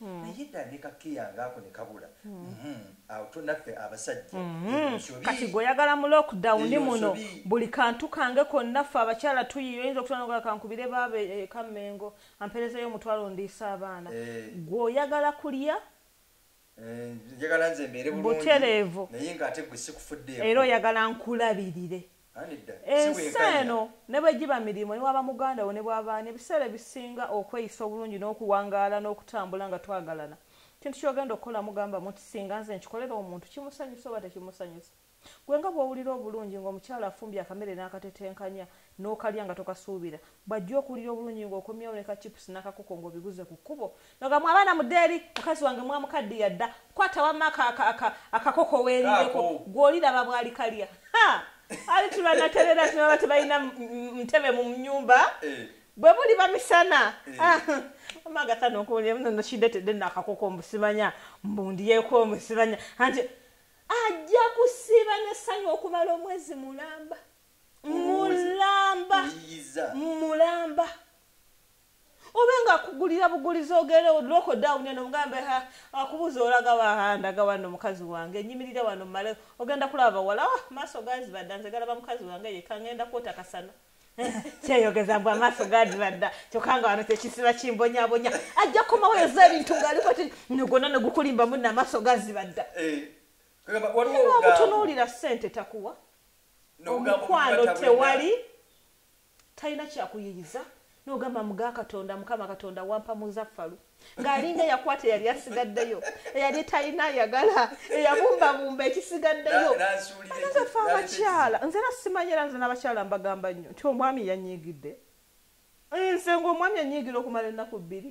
naye dda ne kakeya ngaako ne kabula mm-hmm. awo to naffe abasajja mm-hmm. kati gwe oyagala mu lockdown muno buli kantu kange konna ffe abakyala tuyiyo oyinza okutwanoga kankubire baaba ekammengo e, e, amperezeyo omutwalo ndiisa abaana eh. gwe oyagala kulya eh, njagala nze mbeere bulungi butereevu naye ngaate gwe sikufuddeeko era oyagala nkulabirire ensi eno ne bwe giba mirimu ne waba muganda wo ne bwaba ani ebiseera ebisinga okweyisa obulungi n'okuwangaala n'okutambula nga twagalana kintu ky'ogenda okukola mugamba mu nti singa nze nkikolera omuntu kimusanyusa oba tekimusanyusa gwe nga bw'owulira obulungi ng'omukyala afumbye akamere n'akatetenkanya n'okalya nga tokasuubira Bwajja okuwulira obulungi nga okomyewo ne ka chips nakakoko nga obiguze ku kkubo noga mu abaana mudde eri mukazi wange mwamukaddiya dda kwata wamma akakoko weerireko gwe oliraba bwali kalya ali tibanaterera tibaba tebalina ntebe mu nyumba eh. bwe buli bamisana eh. ah, amagatano okuwulira muno nokidetedde nakakoko mbusimanya mbundiyeko omusimanya anti ajja kusiiba nesanyu okumala omwezi mulamba mulamba mulamba obe nga akugulira bugulizi ogere oloko down eno mugambe ha akubuza olaga wahanda gawano mukazi wange nyimirira wano male ogenda kulaba wala oh, maso gazi badanze galaba mukazi wange yekangenda kwota kasana kyeyogeza mbu amaaso gadibadda kyokka nga wano tekisiba kimbonyabonya ajja kukomawo yoza ebintu ngaaliko ti nogona negukulimba munna amaaso gazibadda eh, omutunuulira sente takuwa omukwano tewali talina kyakuyiyiza nogamba muga katonda mukama katonda wampa muzaffalu ng'alinga eyakwata eyali asigaddeyo eyali talina ayagala eyabumbabumba ekisigaddeyo nze fe abakyala nze era simanyi era nze n'abakyala mbagamba nnyo nti omwami yanyiigidde nze ngaomwami anyiigira okumala ennaku bbiri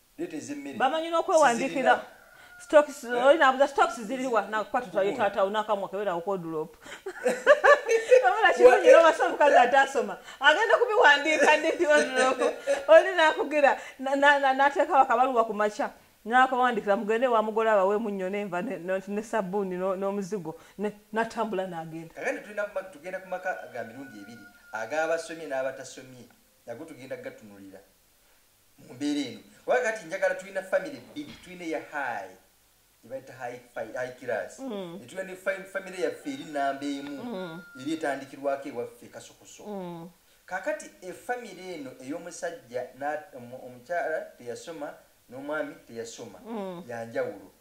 bamanyi n'okwewandiikira stocks eh? oli nabuza stocks ziriwa nakukwata twaye taata unakamwa kebera okodulop amala kirungi eh? nobasa omukazi atasoma agenda kubiwandiika ndidi odulop oli nakugira nateeka wakabaluwa ku makya nakawandikira mugende wamugole abawe munyo nenva ne sabuuni n'omuzigo natambula nagenda tugenda kumaka ga mirundi ebiri agabasomye n'abatasomye nago tugenda gatunulira mu mbeera eno oba kati njagala tulina famire bbiri tulina eya hai ebaita hai kiras mm. netulina ne famire yaffe eri namba emu mm. eri etandikirwako ewaffe kasukuso mm. kakati efamire eno ey'omusajja omukyala teyasoma n'omwami teyasoma yanjawulo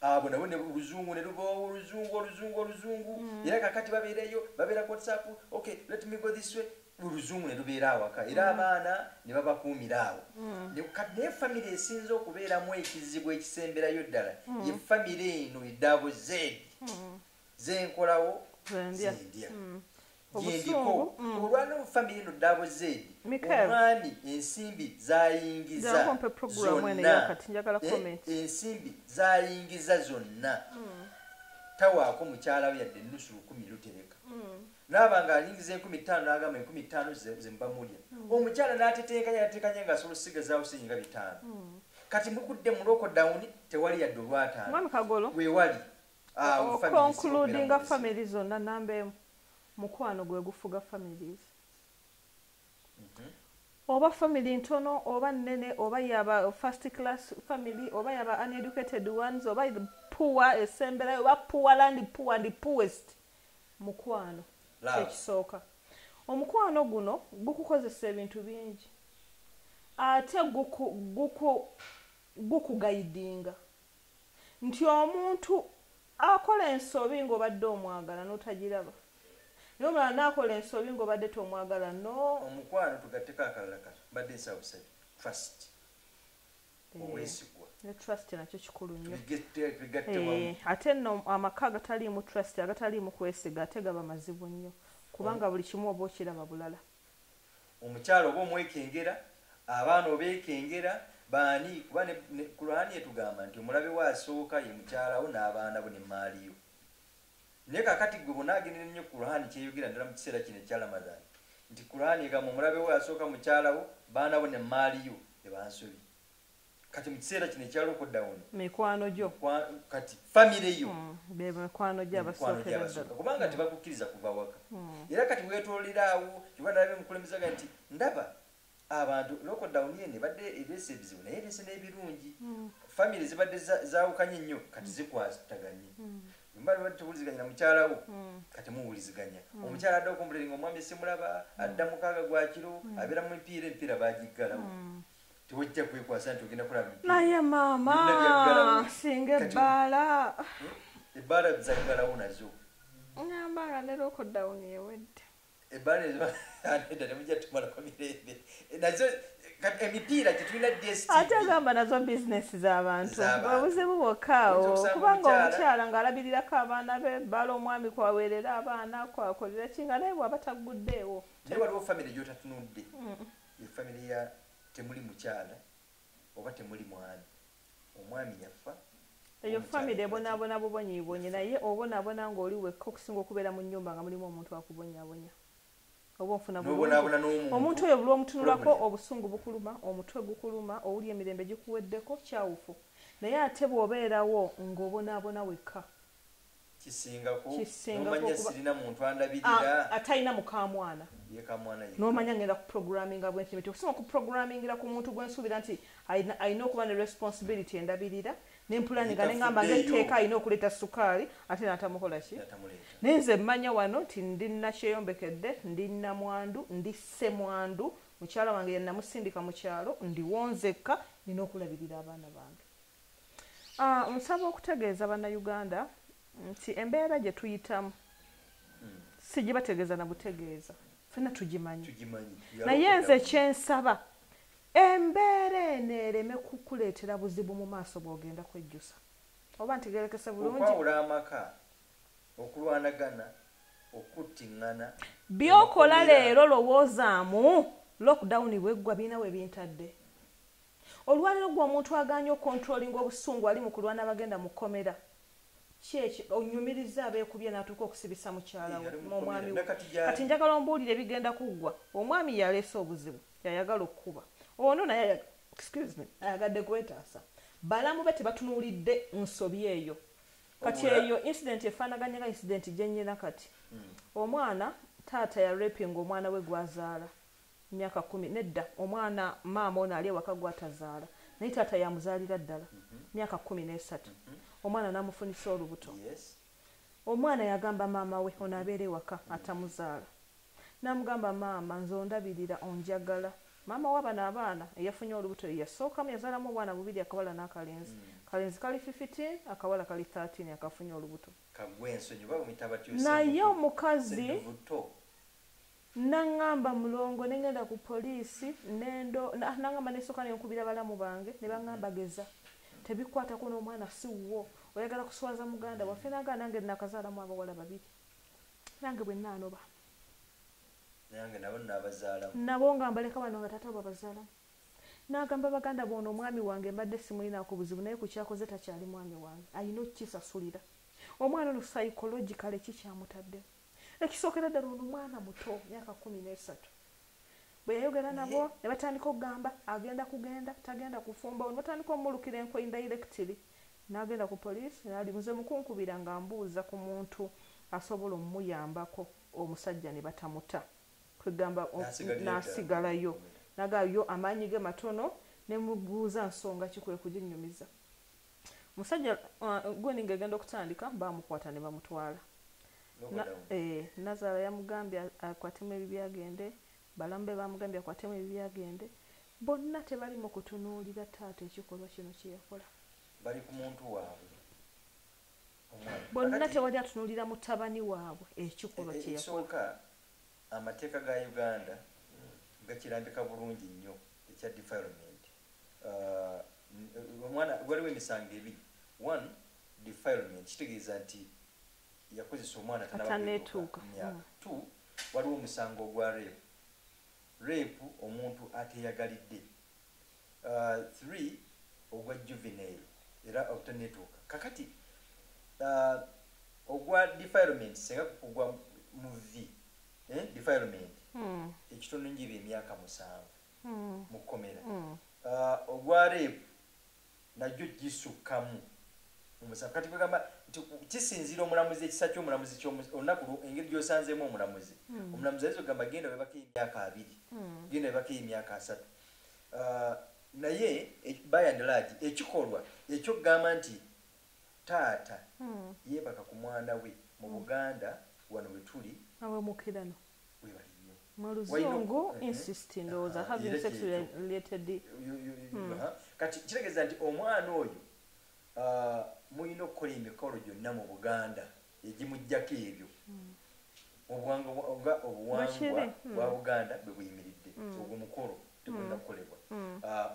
abo nabo ne luzungu ne luboowo oluzungu oluzungu oluzungu mm. era kakati babeereyo babeera ku whatsapp okay let me go this way oluzungu ne lubeera awaka era mm. abaana ne babakuumira awo mm. naye famire esinza okubeeramu ekizibu ekisemberayo ddala ye famire eno edaabo zeedi zenkolawo zendya mm. gyendiko mm. olwa no famire no dabo zedi omwami ensimbi zayingiza zonna eh, ensimbi zayingiza zonna mm. tawaako mukyala we yadde ennusu lukumi lutereka naaba nga ayingiza enkumi ttaano nagamba enkumi ttaano zembamulya omukyala natetenkanya natetenkanya nga asobola osigazaawo siyinga bitaano kati mukudde mulokodawuni tewali yadde olwataano wewali Ah, oh, concludinga family zonna namba emu mukwano gwe gufuga families mhm. oba family ntono oba nene oba yaba first class family oba yaba uneducated ones oba poor esemberayo oba poor land poor and poorest mukwano kyekisooka omukwano guno gukukozesa ebintu bingi ate gukugaidinga nti omuntu akola ensobi ngobadde omwagala notagiraba naye omulala nakola ensobi ngobadde tomwagala no omukwano tugatteko akalala kano mbadde nsaba busabi trust eh, obwesigwa ne trust nakyo kikulu nnyo eh, ate no amaka agataliimu trust agataliimu kwesiga ate gaba mazibu nnyo kubanga buli kimu oba okiraba bulala omukyala oba omwekengera abaana obekengera baani kuba kuraani etugamba nti omulabe wo asooka ye mukyalawo n'abaana bo nemaali yo naye kakati gwe bonagenera ennyo kuraani kyeyogera ddala mu kiseera kino ekya ramadhan nti kuraani egamba omulabe wo asooka mukyalawo baana bo nemaali yo ebansobi kati mukiseera kino ekya lockdown mikwano gyo kati family yo mm, bemikwano gyabasokeredda kubanga mm. tebakukkiriza kuva waka mm. era kati wetololiraawo kiba nalabe mukulembezaga nti ndaba abantu lockdown eno ebadde ereese ebizibu naye ereese n'ebirungi family zibadde zawukanye nnyo kati zikwataganye mbali tuwuliziganya mukyalawo hmm. kati muwuliziganya hmm. omukyala adda okumbuliringa omwami simulaba hmm. adda mukaaga gwakiro abeera mu mpiira empiira bagiggalawo tewajja kwekwasa nti ogenda kola naye maama singa ebbaala hmm? ebbaala zaggalawo nazo ngamba nga ne lokodawuni ewedde ebbaala ezoeda temujja tumalako mirembe nazo emipiira gyetulina ate agamba nazo bizinesi z'abantu obuzibu bwokkaawo kubanga omukyala ng'alabirirako abaana be bala omwami kwaweerera abaana kwakolera ki nga naye bwaba tagguddeewo naye waliwo famiry gyotatunudde mm. Ye family ya temuli mukyala oba temuli mwami omwami yaffa eyo family ebonabona bubonyibonyi naye obonabona nga oli wekka okusinga okubeera mu nyumba nga mulimu omuntu akubonyabonya oba ofuna omuntu oyo buli omutunulako obusungu bukuluma omutwe gukuluma owuli emirembe gikuweddeko kyawufu naye ate bwobeerawo ng'obonabona wekka kisingako nomanya sirina muntu andabirira atalina mukamwana nomanya ngenda ku programminga bwenti nti okusoma ku programmingira ku muntu gwensuubira nti alina okuba ne responsibility endabirira nempulaninga nengamba ngeteeka alina okuleeta sukaali ate natamukola ki naye nze mmanya wano nti ndina kyeyombekedde ndina mwandu ndi semwandu mukyala wange yenamusindika mu kyalo ndiwonzekka nina okulabirira abaana bange Ah, nsaba okutegeeza bannayuganda nti embeera gye tuyitamu hmm. sigibategeeza na butegeeza fena tugimanyi naye nze kyensaba embeera eno ereme kukuleetera buzibu mu maaso bw'ogenda kwejjusa oba ntigerekese bulungiwawula amaka okulwanagana okuttiŋŋana byokola leero lowoozaamu lockdown bweggwa birina we bintadde Olwalero gwe omuntu aganye okontrolinga obusungu ali mu kulwana abagenda mu komera kyekyo onyumiriza abekubye natuuka okusibisa mukyala we mu omwami we kati njagala ombuulire ebigenda kuggwa omwami yaleese obuzibu yayagala okukuba ono naye excuse me ayagadde kwetaasa balamu be tebatunuulidde nsobi eyo kati eyo incident efaanaganya nga incident gyenyina kati hmm. omwana taata ya raping omwana we gwazaala myaka kumi nedda omwana maama ono ali ewaka gwatazaala naye taata yamuzaalira ddala mhm. myaka kumi nesatu mhm. omwana namufunisa olubuto omwana yagamba maama we ono abeera ewaka mhm. atamuzaala namugamba maama nze ondabirira onjagala maama wabano abaana eyafunye olubuto yeyasookamu yazaalamu obwana bubiri akawala nakalenzi kalenzi kali 15 akawala kali 13 akafunye olubuto naye omukazi Nangamba mulongo nengenda ku police nendo nangamba nesoka nenkubira balamu bange nebangamba geza tebikwatako nomwana siwuwo oyagala kuswaza muganda waffe nagana nange nakazalamu abawala babiri nange bwenanoba nange nabo nabazalamu nabo nga mbaleka bano nga tata babazalamu nagamba baganda bono omwami wange mbadde simulinako buzibu naye kukyakoze takyali mwami wange ayina okukisasulira omwana ono psychologically kikyamutaddemu ekisookera ddala ono mwana muto myaka kumi n'esatu bwe yayogera nabo ne batandika okugamba agenda kugenda tagenda kufumba ne batandika omulukira enkwe indirectly n'agenda ku poliisi naali nze mukunkubira nga mbuuza ku muntu asobola omuyambako omusajja ne batamuta kwegamba n'asigalayo naga yo amaanyi ge matono ne mubuuza nsonga ki kwe kuginyumiza musajja uh, gwendi ngegenda okutandika bamukwata ne bamutwala eh, nazaala yamugambye akwatemu ebibyagende balamu be bamugambye akwatemu ebibyagende bonna tebalimu kutunuulira taata ekikolwa kino kyeyakola bali ku muntu waabwe bonna tewali atunuulira mutabani waabwe ekikolwa eh, eh, kyeyasooka amateeka ga uganda gakirambika bulungi nnyo ekya defilement uh, omwana waliwo emisango ebiri one defilement kitegeeza nti yakozesa omwana tanabaetuuka myaka mm. two waliwo omusango ogwa rape rape omuntu ateyagalidde uh, three ogwa juvenile era obutanetuuka kakati uh, ogwa defilement senga kugwa mu v eh, defilement hmm. ekitono njiba emyaka musanvu mm. mu kkomera mm. uh, ogwa reepu nagyo gisukkamu omusanvu kati kwegamba nti kisinziira omulamuzi ekisa kyomulamuzi olunaku engeri gyosanzeemu omulamuzi mm. omulamuzi ayinza okugamba genda webako emyaka abiri mm. genda webako emyaka asatu uh, naye e, by and large ekikolwa ekyokugamba nti Taata yebaka ku mwana we mu Buganda wano wetuli. Abamukirano. Webale nnyo. Mu luzungu insist ndowooza having sex related. Kati kitegeeza nti omwana oyo mulina okukola emikolo gyonna mu Buganda egimujjako ebyo obuwanga nga obuwangwa bwa Buganda bwe buyimiridde ogwo mukolo tegulina kukolebwa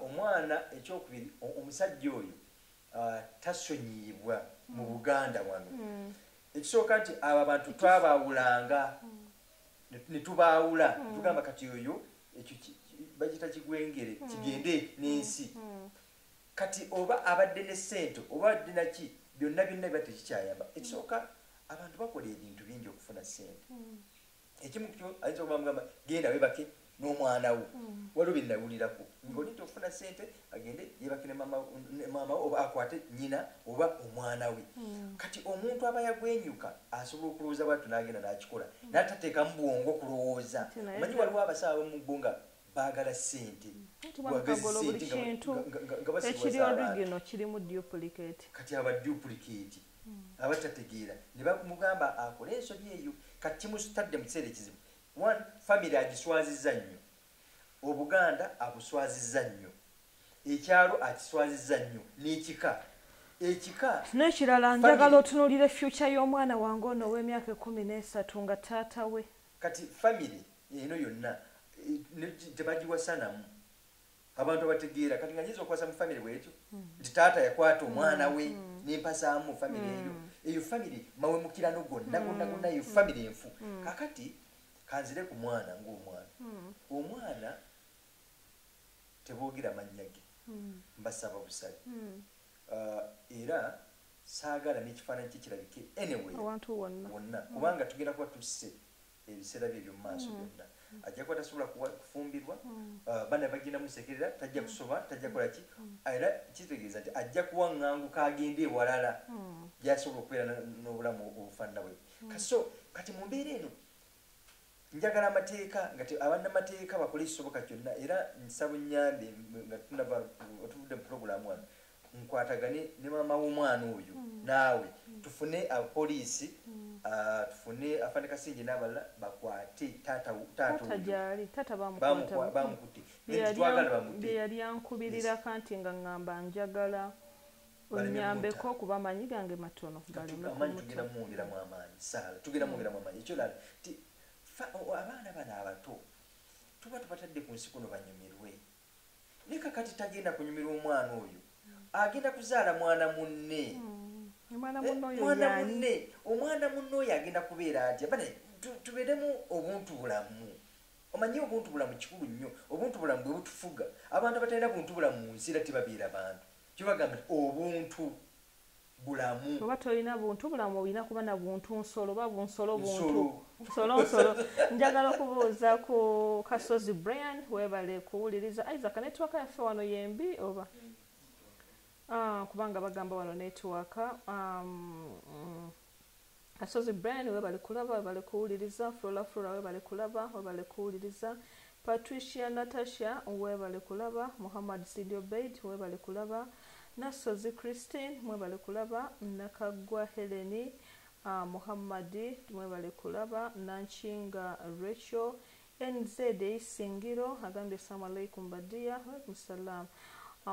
omwana. Ekyokubiri omusajja oyo Ah, tasonyiyibwa mu buganda wano mm. ekisooka nti abo abantu twabaawulanga mm. ne tubaawula mm. tugamba kati oyo ekyo bagita kigwengere kigende n'ensi kati oba abadde ne sente oba abadde naki byonna byonna biba tekikyayamba ekisooka abantu bakola ebintu bingi okufuna sente ekimu kyo ayinza okuba mugamba genda webake n'omwana wo mm. waliwo bye nawulirako ngoli nti okufuna sente agende yebake ne maama we oba akwate nyina oba omwana we mm. kati omuntu aba yagwenyuka asobola okulowooza bwatyo n'agenda n'akikola mm. n'atateekamu bwongo kulowooza omanyi waliwo abasawo abamu bo nga baagala sente ekiri origino kirimu duplicate kati aba duplicate abatategeera ne bamugamba akole ensobi eyo kati kimustadde mu kiseera ekizibu one famiry agiswaziza nnyo obuganda abuswaziza nnyo ekyalo akiswaziza nnyo n'ekika ekika n'ekirala njagala otunulire future y'omwana wange ono ow'emyaka ekumi n'esatu nga taata we kati famiry eno yonna eh, tebagiwasanamu abantu abategeera kati nga nyinza okwasa mu famiry bwekyo hmm. nti taata yakwata omwana we hmm. Hmm. nempasaamu famiry eyo eyo famiry mawemukirano gonna gonna gonna eyo famiry enfu kakati kanzire ku mwana ngaomwana omwana teboogera mannya ge mbasaba busabi uh, era saagala nekifaananyi kikirabike anyway wonna kubanga tugenda kuba tusse ebiseera bye eby'omu maaso mm. byonna ajja kuba tasobola kufumbirwa mm. uh, bana bagenda musekerera tajja mm. kusoba tajja kukola ki era kitegeeza nti ajja kuwaŋŋanguka agende ewalala gyasobola okubeera n'obulamu obufaanana bwe kaso kati mu mbeera eno njagala amateeka nga abannamateeka bakole ekisoboka kyonna era nsaba nnyambe nga tunava otuvudde mu pulogulaamu wano nkwatagane ne maama w'omwana oyo hmm. naawe hmm. tufune abapoliisi hmm. ah, tufune afande kasinje n'abalala bakwate taatabamukutte yeyali ankubirirako nti nga ŋŋamba njagala onyambeko okuba amaanyi gange matono abaana bano abato tuba tubatadde ku nsi kuno banyumirwe ne kakati tagenda kunyumirwa omwana oyo agenda kuzaala mwana munne hmm. eh, mwana munne omwana munne oyo agenda kubeera atya bane tubeeremu obuntu bulamu omanyi obuntu bulamu kikulu nnyo obuntu bulamu bwe butufuga abantu abatalina buntu bulamu mu nsi era tebabeera bantu kyebagamba obuntu bulamu oba tolina buntu bulamu olina kuba na buntu nsolo oba bunsolo buntu nsolo nsolo njagala okubuuza ku kasozi brian webale kuwuliriza isaac netiwaka yaffe wano yembi oba ah, kubanga bagamba wano netiwaka um, mm. Kasozi Brian webale kulaba webale kuwuliriza Flora Flora webale kulaba webale kuwuliriza Patricia Natasha webale kulaba Muhammad Sidi Obeid webale kulaba Nassozi Christine mwebale kulaba Nakaggwa Helen uh, Muhammad mwebale kulaba Nankinga Rachel NZ e Isingiro agambye Assalamu Alaikum ba dear. Walaikum Salaam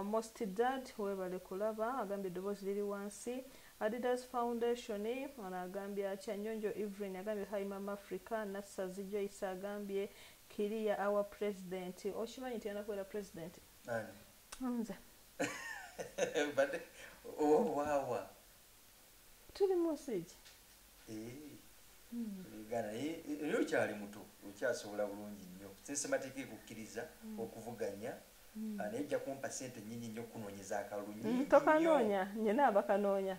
most dad webale kulaba agambye eddoboozi liri wansi Adidas foundation ono agambye atya Nyonjo Evelyn agambye hi maama Africa Nassazi Joyce agambye clear our president okimanyi nti yena kubeera president nze mbadde owawa tuli mu nsi ki gana era okyali muto okyasobola bulungi nnyo sensemateeka ekukkiriza hmm. okuvuganya hmm. ah, naye ojja kumpa sente nyingi nnyo okunoonyeza akalulu hmm, tokanoonya nyina abakanoonya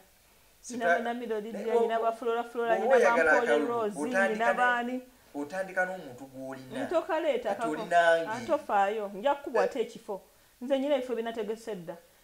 otandika n'omuntu gwolinaolinangetofaayo nja kukubwate ekifo nze nyina ebifo binategese dda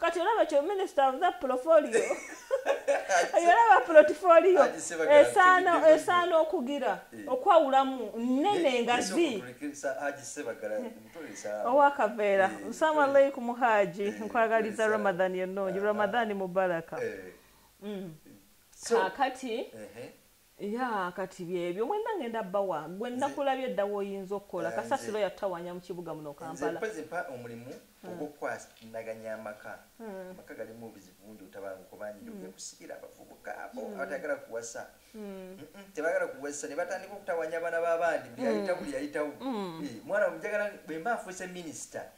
kati olaba kyo minisita avuza pulofolio olaba pulotifolio esaana esaana okugira eh. okwawulamu nnene nga zi owakaveera eh. nsaamu eh. alaikum haaji nkwagaliza ramadhan ennungi ah, ah. ramadhan mubaraka mm. kakati ya kati byebyo mwena ngenda bawa gwe nakulabye dda woyinza okukola eh, kasasiro yatawanya mu kibuga muno kampala nze mpa omulimu hmm. ogwokwasinaganya amaka hmm. amaka galimu obuzibu bungi otabanguko bangi hmm. okusikira abavubuka abo abatayagala kuwasa tebagala kuwasa ne batandika okutawanya abaana babandi buli yayitawo buli yayitawo eh, mwana mujagala bwemba afuuse minisita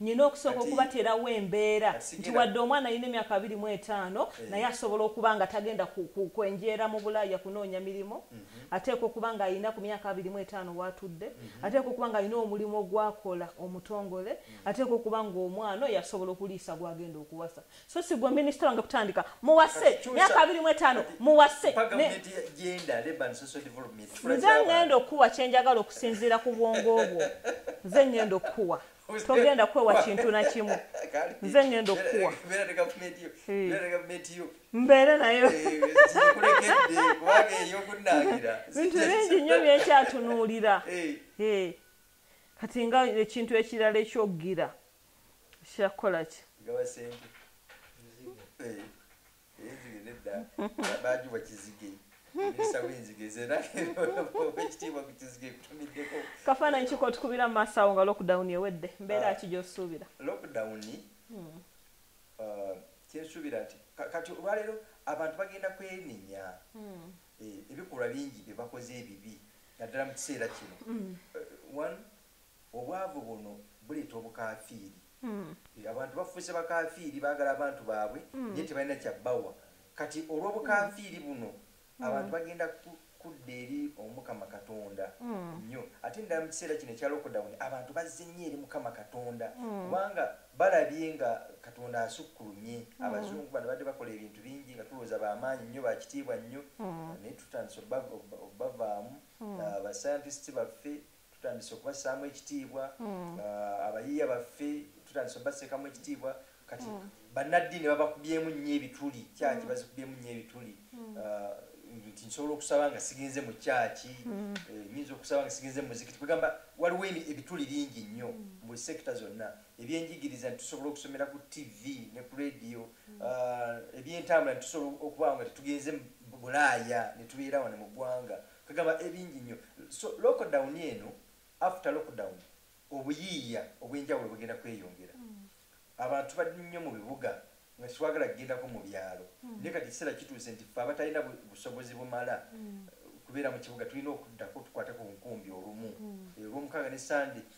nina okusooka okubaterawo embeera nti wadde omwana alina emyaka abiri mu etaano eh. naye asobola okuba nga tagenda kwenjeera mu bulaaya kunoonya mirimu mhm. ateeka okuba nga alina ku myaka abiri mu etaano waatudde mhm. ateeka okuba nga alina omulimu ogwakola omutongole mhm. ateeka okuba nga omwana oyo asobola okuliisa gwagenda okuwasa so si gwe minisita wange kutandika muwase myaka abiri mu etaano muwase nze ŋŋenda okukuwa kye njagala okusinziira ku bwongo obwo nze ŋŋenda okukuwa togenda kwewa kintu na kimu nze ŋŋenda okukuwa mbeere nayo bintu bingi nnyo byenkyatunuulira kati nga ekintu ekirala ekyoggira kya kukola ki gaba sente eh, enzige nedda bajuba kizige kafaananyi kiko otukubira mu maaso awo nga lockdown ewedde mbeera ah. ki gyosuubira lockdown hmm. ah, kyensuubira nti kati olwaleero abantu bagenda kwenenya hmm. eh, ebikolwa bingi byebakoze ebibi naddala mu kiseera kino hmm. eh, Obwavu buno buleeta obukaafiiri. Abantu bafuuse bakaafiiri, baagala abantu baabwe naye tebalina kya bawa. Kati olw'obukaafiiri buno, abantu bagenda kudda eri Omukama Katonda nnyo. Ate ddala mu kiseera kino ekya lockdown, abantu bazze nnyo eri Mukama Katonda kubanga balabye nga Katonda asukkulumye. Abazungu bano babadde bakola ebintu bingi nga tulowooza ba maanyi nnyo, ba kitiibwa nnyo naye tutandise obbavaamu. Ba scientists baffe tutandise okubassaamu ekitiibwa hmm. ah, abayiiya baffe tutandise obaseekamu ekitiibwa kati hmm. bannaddiini babakubyemu nnyo ebituli kyaki hmm. bazikubyemu nnyo ebituli ah, nti nsobola okusaba nga sigenze mu kyaki eh, nyinza okusaba nga sigenze mu muzikiti kwegamba waliwo ebituli bingi nnyo mu buli sekita zonna ebyenjigiriza nitusobola okusomera ku tv ne ku radio ah, ebyentambula nitusobola okuba nga tetugenze bulaaya netubeera wano mu ggwanga Kagaba ebingi nnyo. So lockdown eno, after lockdown, obuyiiya obwenjawulo bugenda kweyongera. Hmm. Abantu bali nnyo mu bibuga nga tetwagala kugendako mu byalo. Hmm. Naye kati ekiseera kituuse nti ffe abatalina busobozi bumala hmm. kubeera mu kibuga tulina okuddako tukwate ku nkumbi olumu. Olwomukaaga ne Sunday.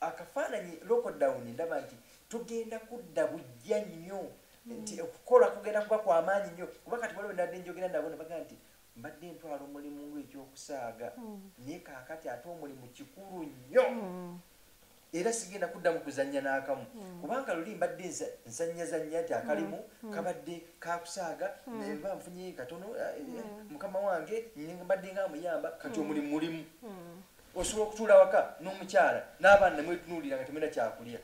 Akafaananyi lockdown ndaba nti tugenda kudda bujja nnyo nti okukola kugenda kuba kwa maanyi nnyo kuba kati waliwo nabadde njogera nabo ne bagamba nti mbadde ntwala omulimu ng'ekyokusaaga hmm. naye kaakati ate omulimu kikulu nnyo hmm. era sigenda kuddamu kuzannya n'akamu hmm. kubanga luli mbadde nzannyazannya nti akalimu kabadde kakusaaga neba nfunye katono eh, eh, mukama wange mbadde nga amuyamba kati omulimu mulimu osobola okutuula waka n'omukyala n'abaana nemwetunuulira nga temulina kyakulya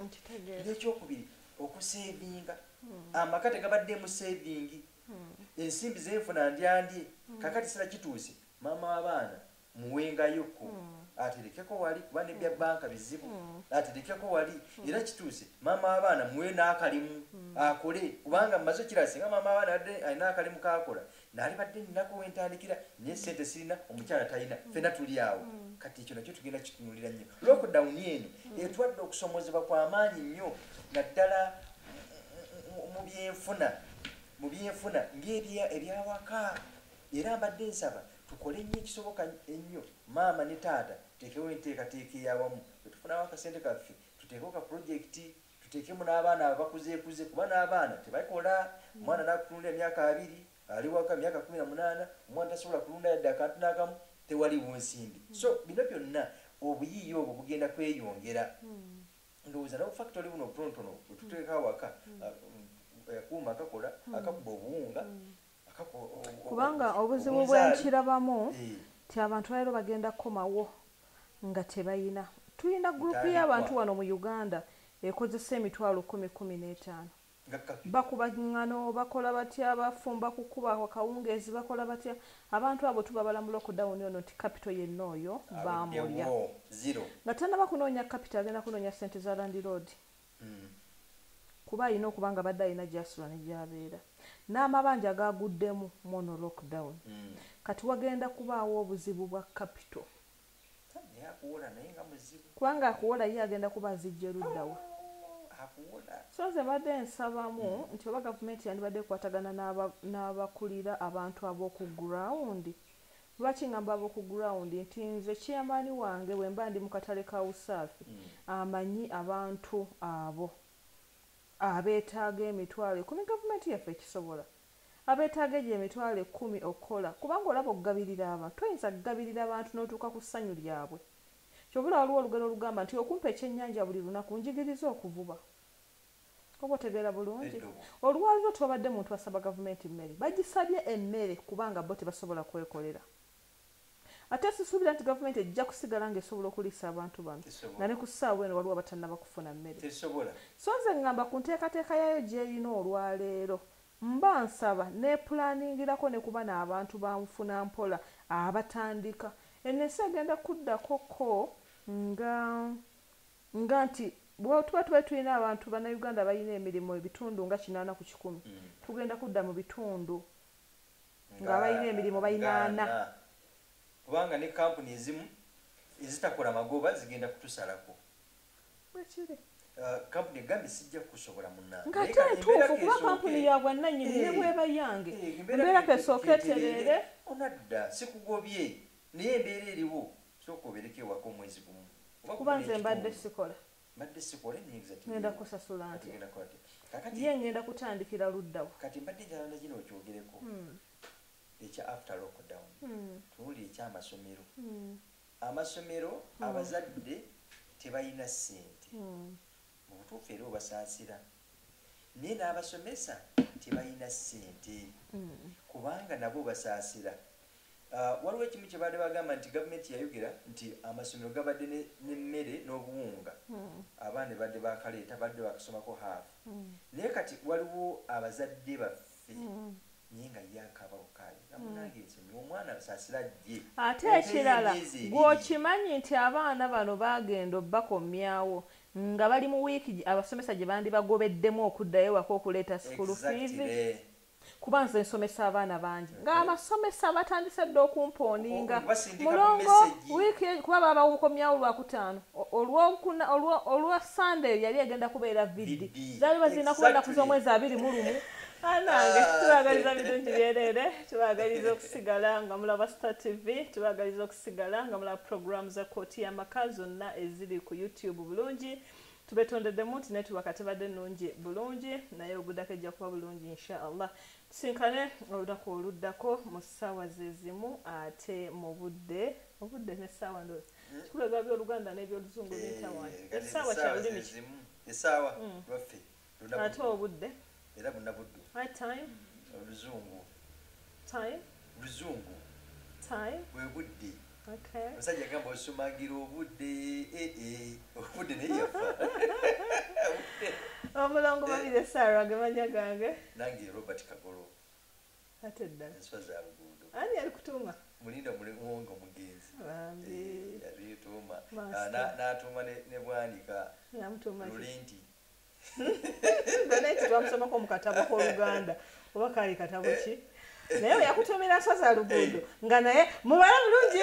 nekyokubiri okuseevinga hmm. amaka tegabaddeemu seevingi hmm. ensimbi zenfuna ndyandye hmm. kakati sira kituuse maama w'abaana muwengayoko aterekeko wali kuba nebya banka bizibu aterekeko wali era kituuse maama w'abaana muwe n'akalimu akole kubanga mumaze okirasinga maama w'abaana adde alina akalimu kakola nalibadde ninaku wentandikira naye sente sirina omukyala talina mm. fena tuli awo mm. kati ekyo nakyo tugenda kitunulira nnyo lockdown eno mm. etwadde okusomozebwa kwamaanyi nnyo naddala mubyenfuna mu byenfuna ngebyawaka era mbadde nsaba tukole nnyo ekisoboka ennyo maama ne taata tekewo enteekateeka eyawamu etufunawo akasente kaffe tuteekeo ka projekiti tuteekemu n'abaana abakuzeekuze kuba n'abaana tebakola omwana nakutunula emyaka abiri ali waka myaka kumi na munaana omwana tasobola kulunda yadde akantu n'akamu tewaliwo nsimbi hmm. so bino byonna obuyiiya obwo bugenda kweyongera hmm. ndowooza nawo factory buno obutonotono bwetuteeka awaka hmm. uh, um, akuuma akakola akakuba obuwunga kubanga obuzibu bwenkirabamu eh. ti abantu balero bagenda kukomawo nga tebayina tulina gurupu y'abantu wano mu uganda ekozesa emitwalo kumi kumi n'etaano bakuba ŋŋano bakola batya bafumba kukuba akawungeezi bakola batya abantu abo tubabala mu lockdown ono nti kapito yenna oyo baamulya nga tanaba kunoonya kapito agenda kunoonya ssente za landiroodi kuba alina okuba nga badde alina gyasula ne gyabeera n'amabanja gaguddemu mwono lockdown mm. kati wagenda kubaawo obuzibu bwa kapito kubanga akuwola ye agenda kuba azijja eruddawa so nze mbadde nsabamu mm. nti oba gavumenti yandibadde ekwatagana n'abakulira abantu ab'oku gurawundi Lwaki ngamba abo ku ground nti nze chairman wange bwemba ndi mu katale ka USAFI amanyi abantu abo abetaaga emitwalo ekumi gavumenti yaffe ekisobola? Abetaaga egyo emitwalo ekumi okukola kubanga olaba okugabirira abantu toyinza kugabirira bantu notuuka ku ssanyu lyabwe kyova olaba waliwo olugero olugamba nti okumpa ekyenyanja buli lunaku njigiriza okuvuba. oba otegeera bulungi olwaliro tewabadde muntu asaba gavumenti mmere bagisabye emmere kubanga bo tebasobola kwekolera ate sisuubira nti gavumenti ejja kusigala nga esobola okuliisa abantu bano nga ne ku ssaawa eno waliwo abatannaba kufuna mmere so nze ngamba ku nteekateeka yaayo gy'erina olwaleero mba nsaba n'epulaaningirako ne kuba n'abantu ba nfuna mpola abatandika eno ensi egenda kuddako ko nga Nga nti bwetuba tubadde tulina abantu bannayuganda abalina emirimu ebitundu nga kinaana ku kikumi, tugenda kudda mu bitundu ng'abalina emirimu balina ana. Kubanga ne kkampuni ezimu ezitakola magoba zigenda kutusalako. Bwe kiri. Kkampuni egambye sijja kukusobola munnange. Nga ate ntuufu kuba kkampuni ya bwannannyini ne bw'eba yange embeera ka esooke etereere. Onadda sikugobye naye embeera eriwo Sooka obereko ewaka omwezi gumu oba kuba nze mbadde sikola mbadde sikola enyinza ngenda kusasula nti ngenda kola kakati ye ngenda kutandikira luddawo kati mbadde njala na kino okyogereko hmm. ekya after lockdown hmm. tuwulire ekyamasomero hmm. amasomero hmm. abazadde tebalina ssente hmm. mu butuufu era obasaasira hmm. naye n'abasomesa tebalina ssente mm. kubanga nabo basaasira ah, waliwo ekimu kye baali bagamba nti gavumenti yayogera nti amasomero gabadde n'emmere n'obuwunga mm. abaana badde bakaleeta badde bakasomako haafu mm. naye kati waliwo abazadde baffe naye nga ye akaaba bukaabi nga munange nsonyi omwana nsasira jje ate ekirala gweokimanyi nti abaana bano bagenda obakomyawo nga bali mu wiiki abasomesa gye bandibagobeddemu okuddayo waka okuleeta sukulu fiizi kuba nze nsomesa abaana bangi ng'abasomesa batandise dda okumpooninga mulongo wiiki kuba babakomyawo lwakutaano olwokuna olwo olwa sunday yali egenda kubeera vidi zali bazirina kuba ennaku z'omwezi abiri mu lumu anange ah, tubagaliza birungi byereere tubagaliza okusigala nga mulaba star tv tubagaliza okusigala nga mulaba programu za kooti y'amaka zonna eziri ku youtube bulungi tubetondeddemu nti netubaka tebadde nungi bulungi naye ogudako ejja kuba bulungi insha allah tusinkane olunaku oluddako mu ssaawa zezimu ate mu budde obudde ne ssaawa ndozi hmm? kikulaga byoluganda nebyoluzungu eh, bitawa esaawa kyalulimi esaawa hmm. lwaffe ate obudde era bunabuddu time oluzungu time luzungu time bwe budde omusajja gamba osumagira obudde eh, eh, obudde naye yafa omulongo babire sara gemanya gange nange robert kagolo ate ddala enswa za luguudo ani yalikutuma mulinda muliwonga omugenzi yabituuma eh, ah, n'atuuma ne bwanika lulinti gonna ekyo twamusomako mu katabo k'oluganda oba kaali katabo ki naye we yakutuumira nswa za luguudo eh. nga naye mubala bulungi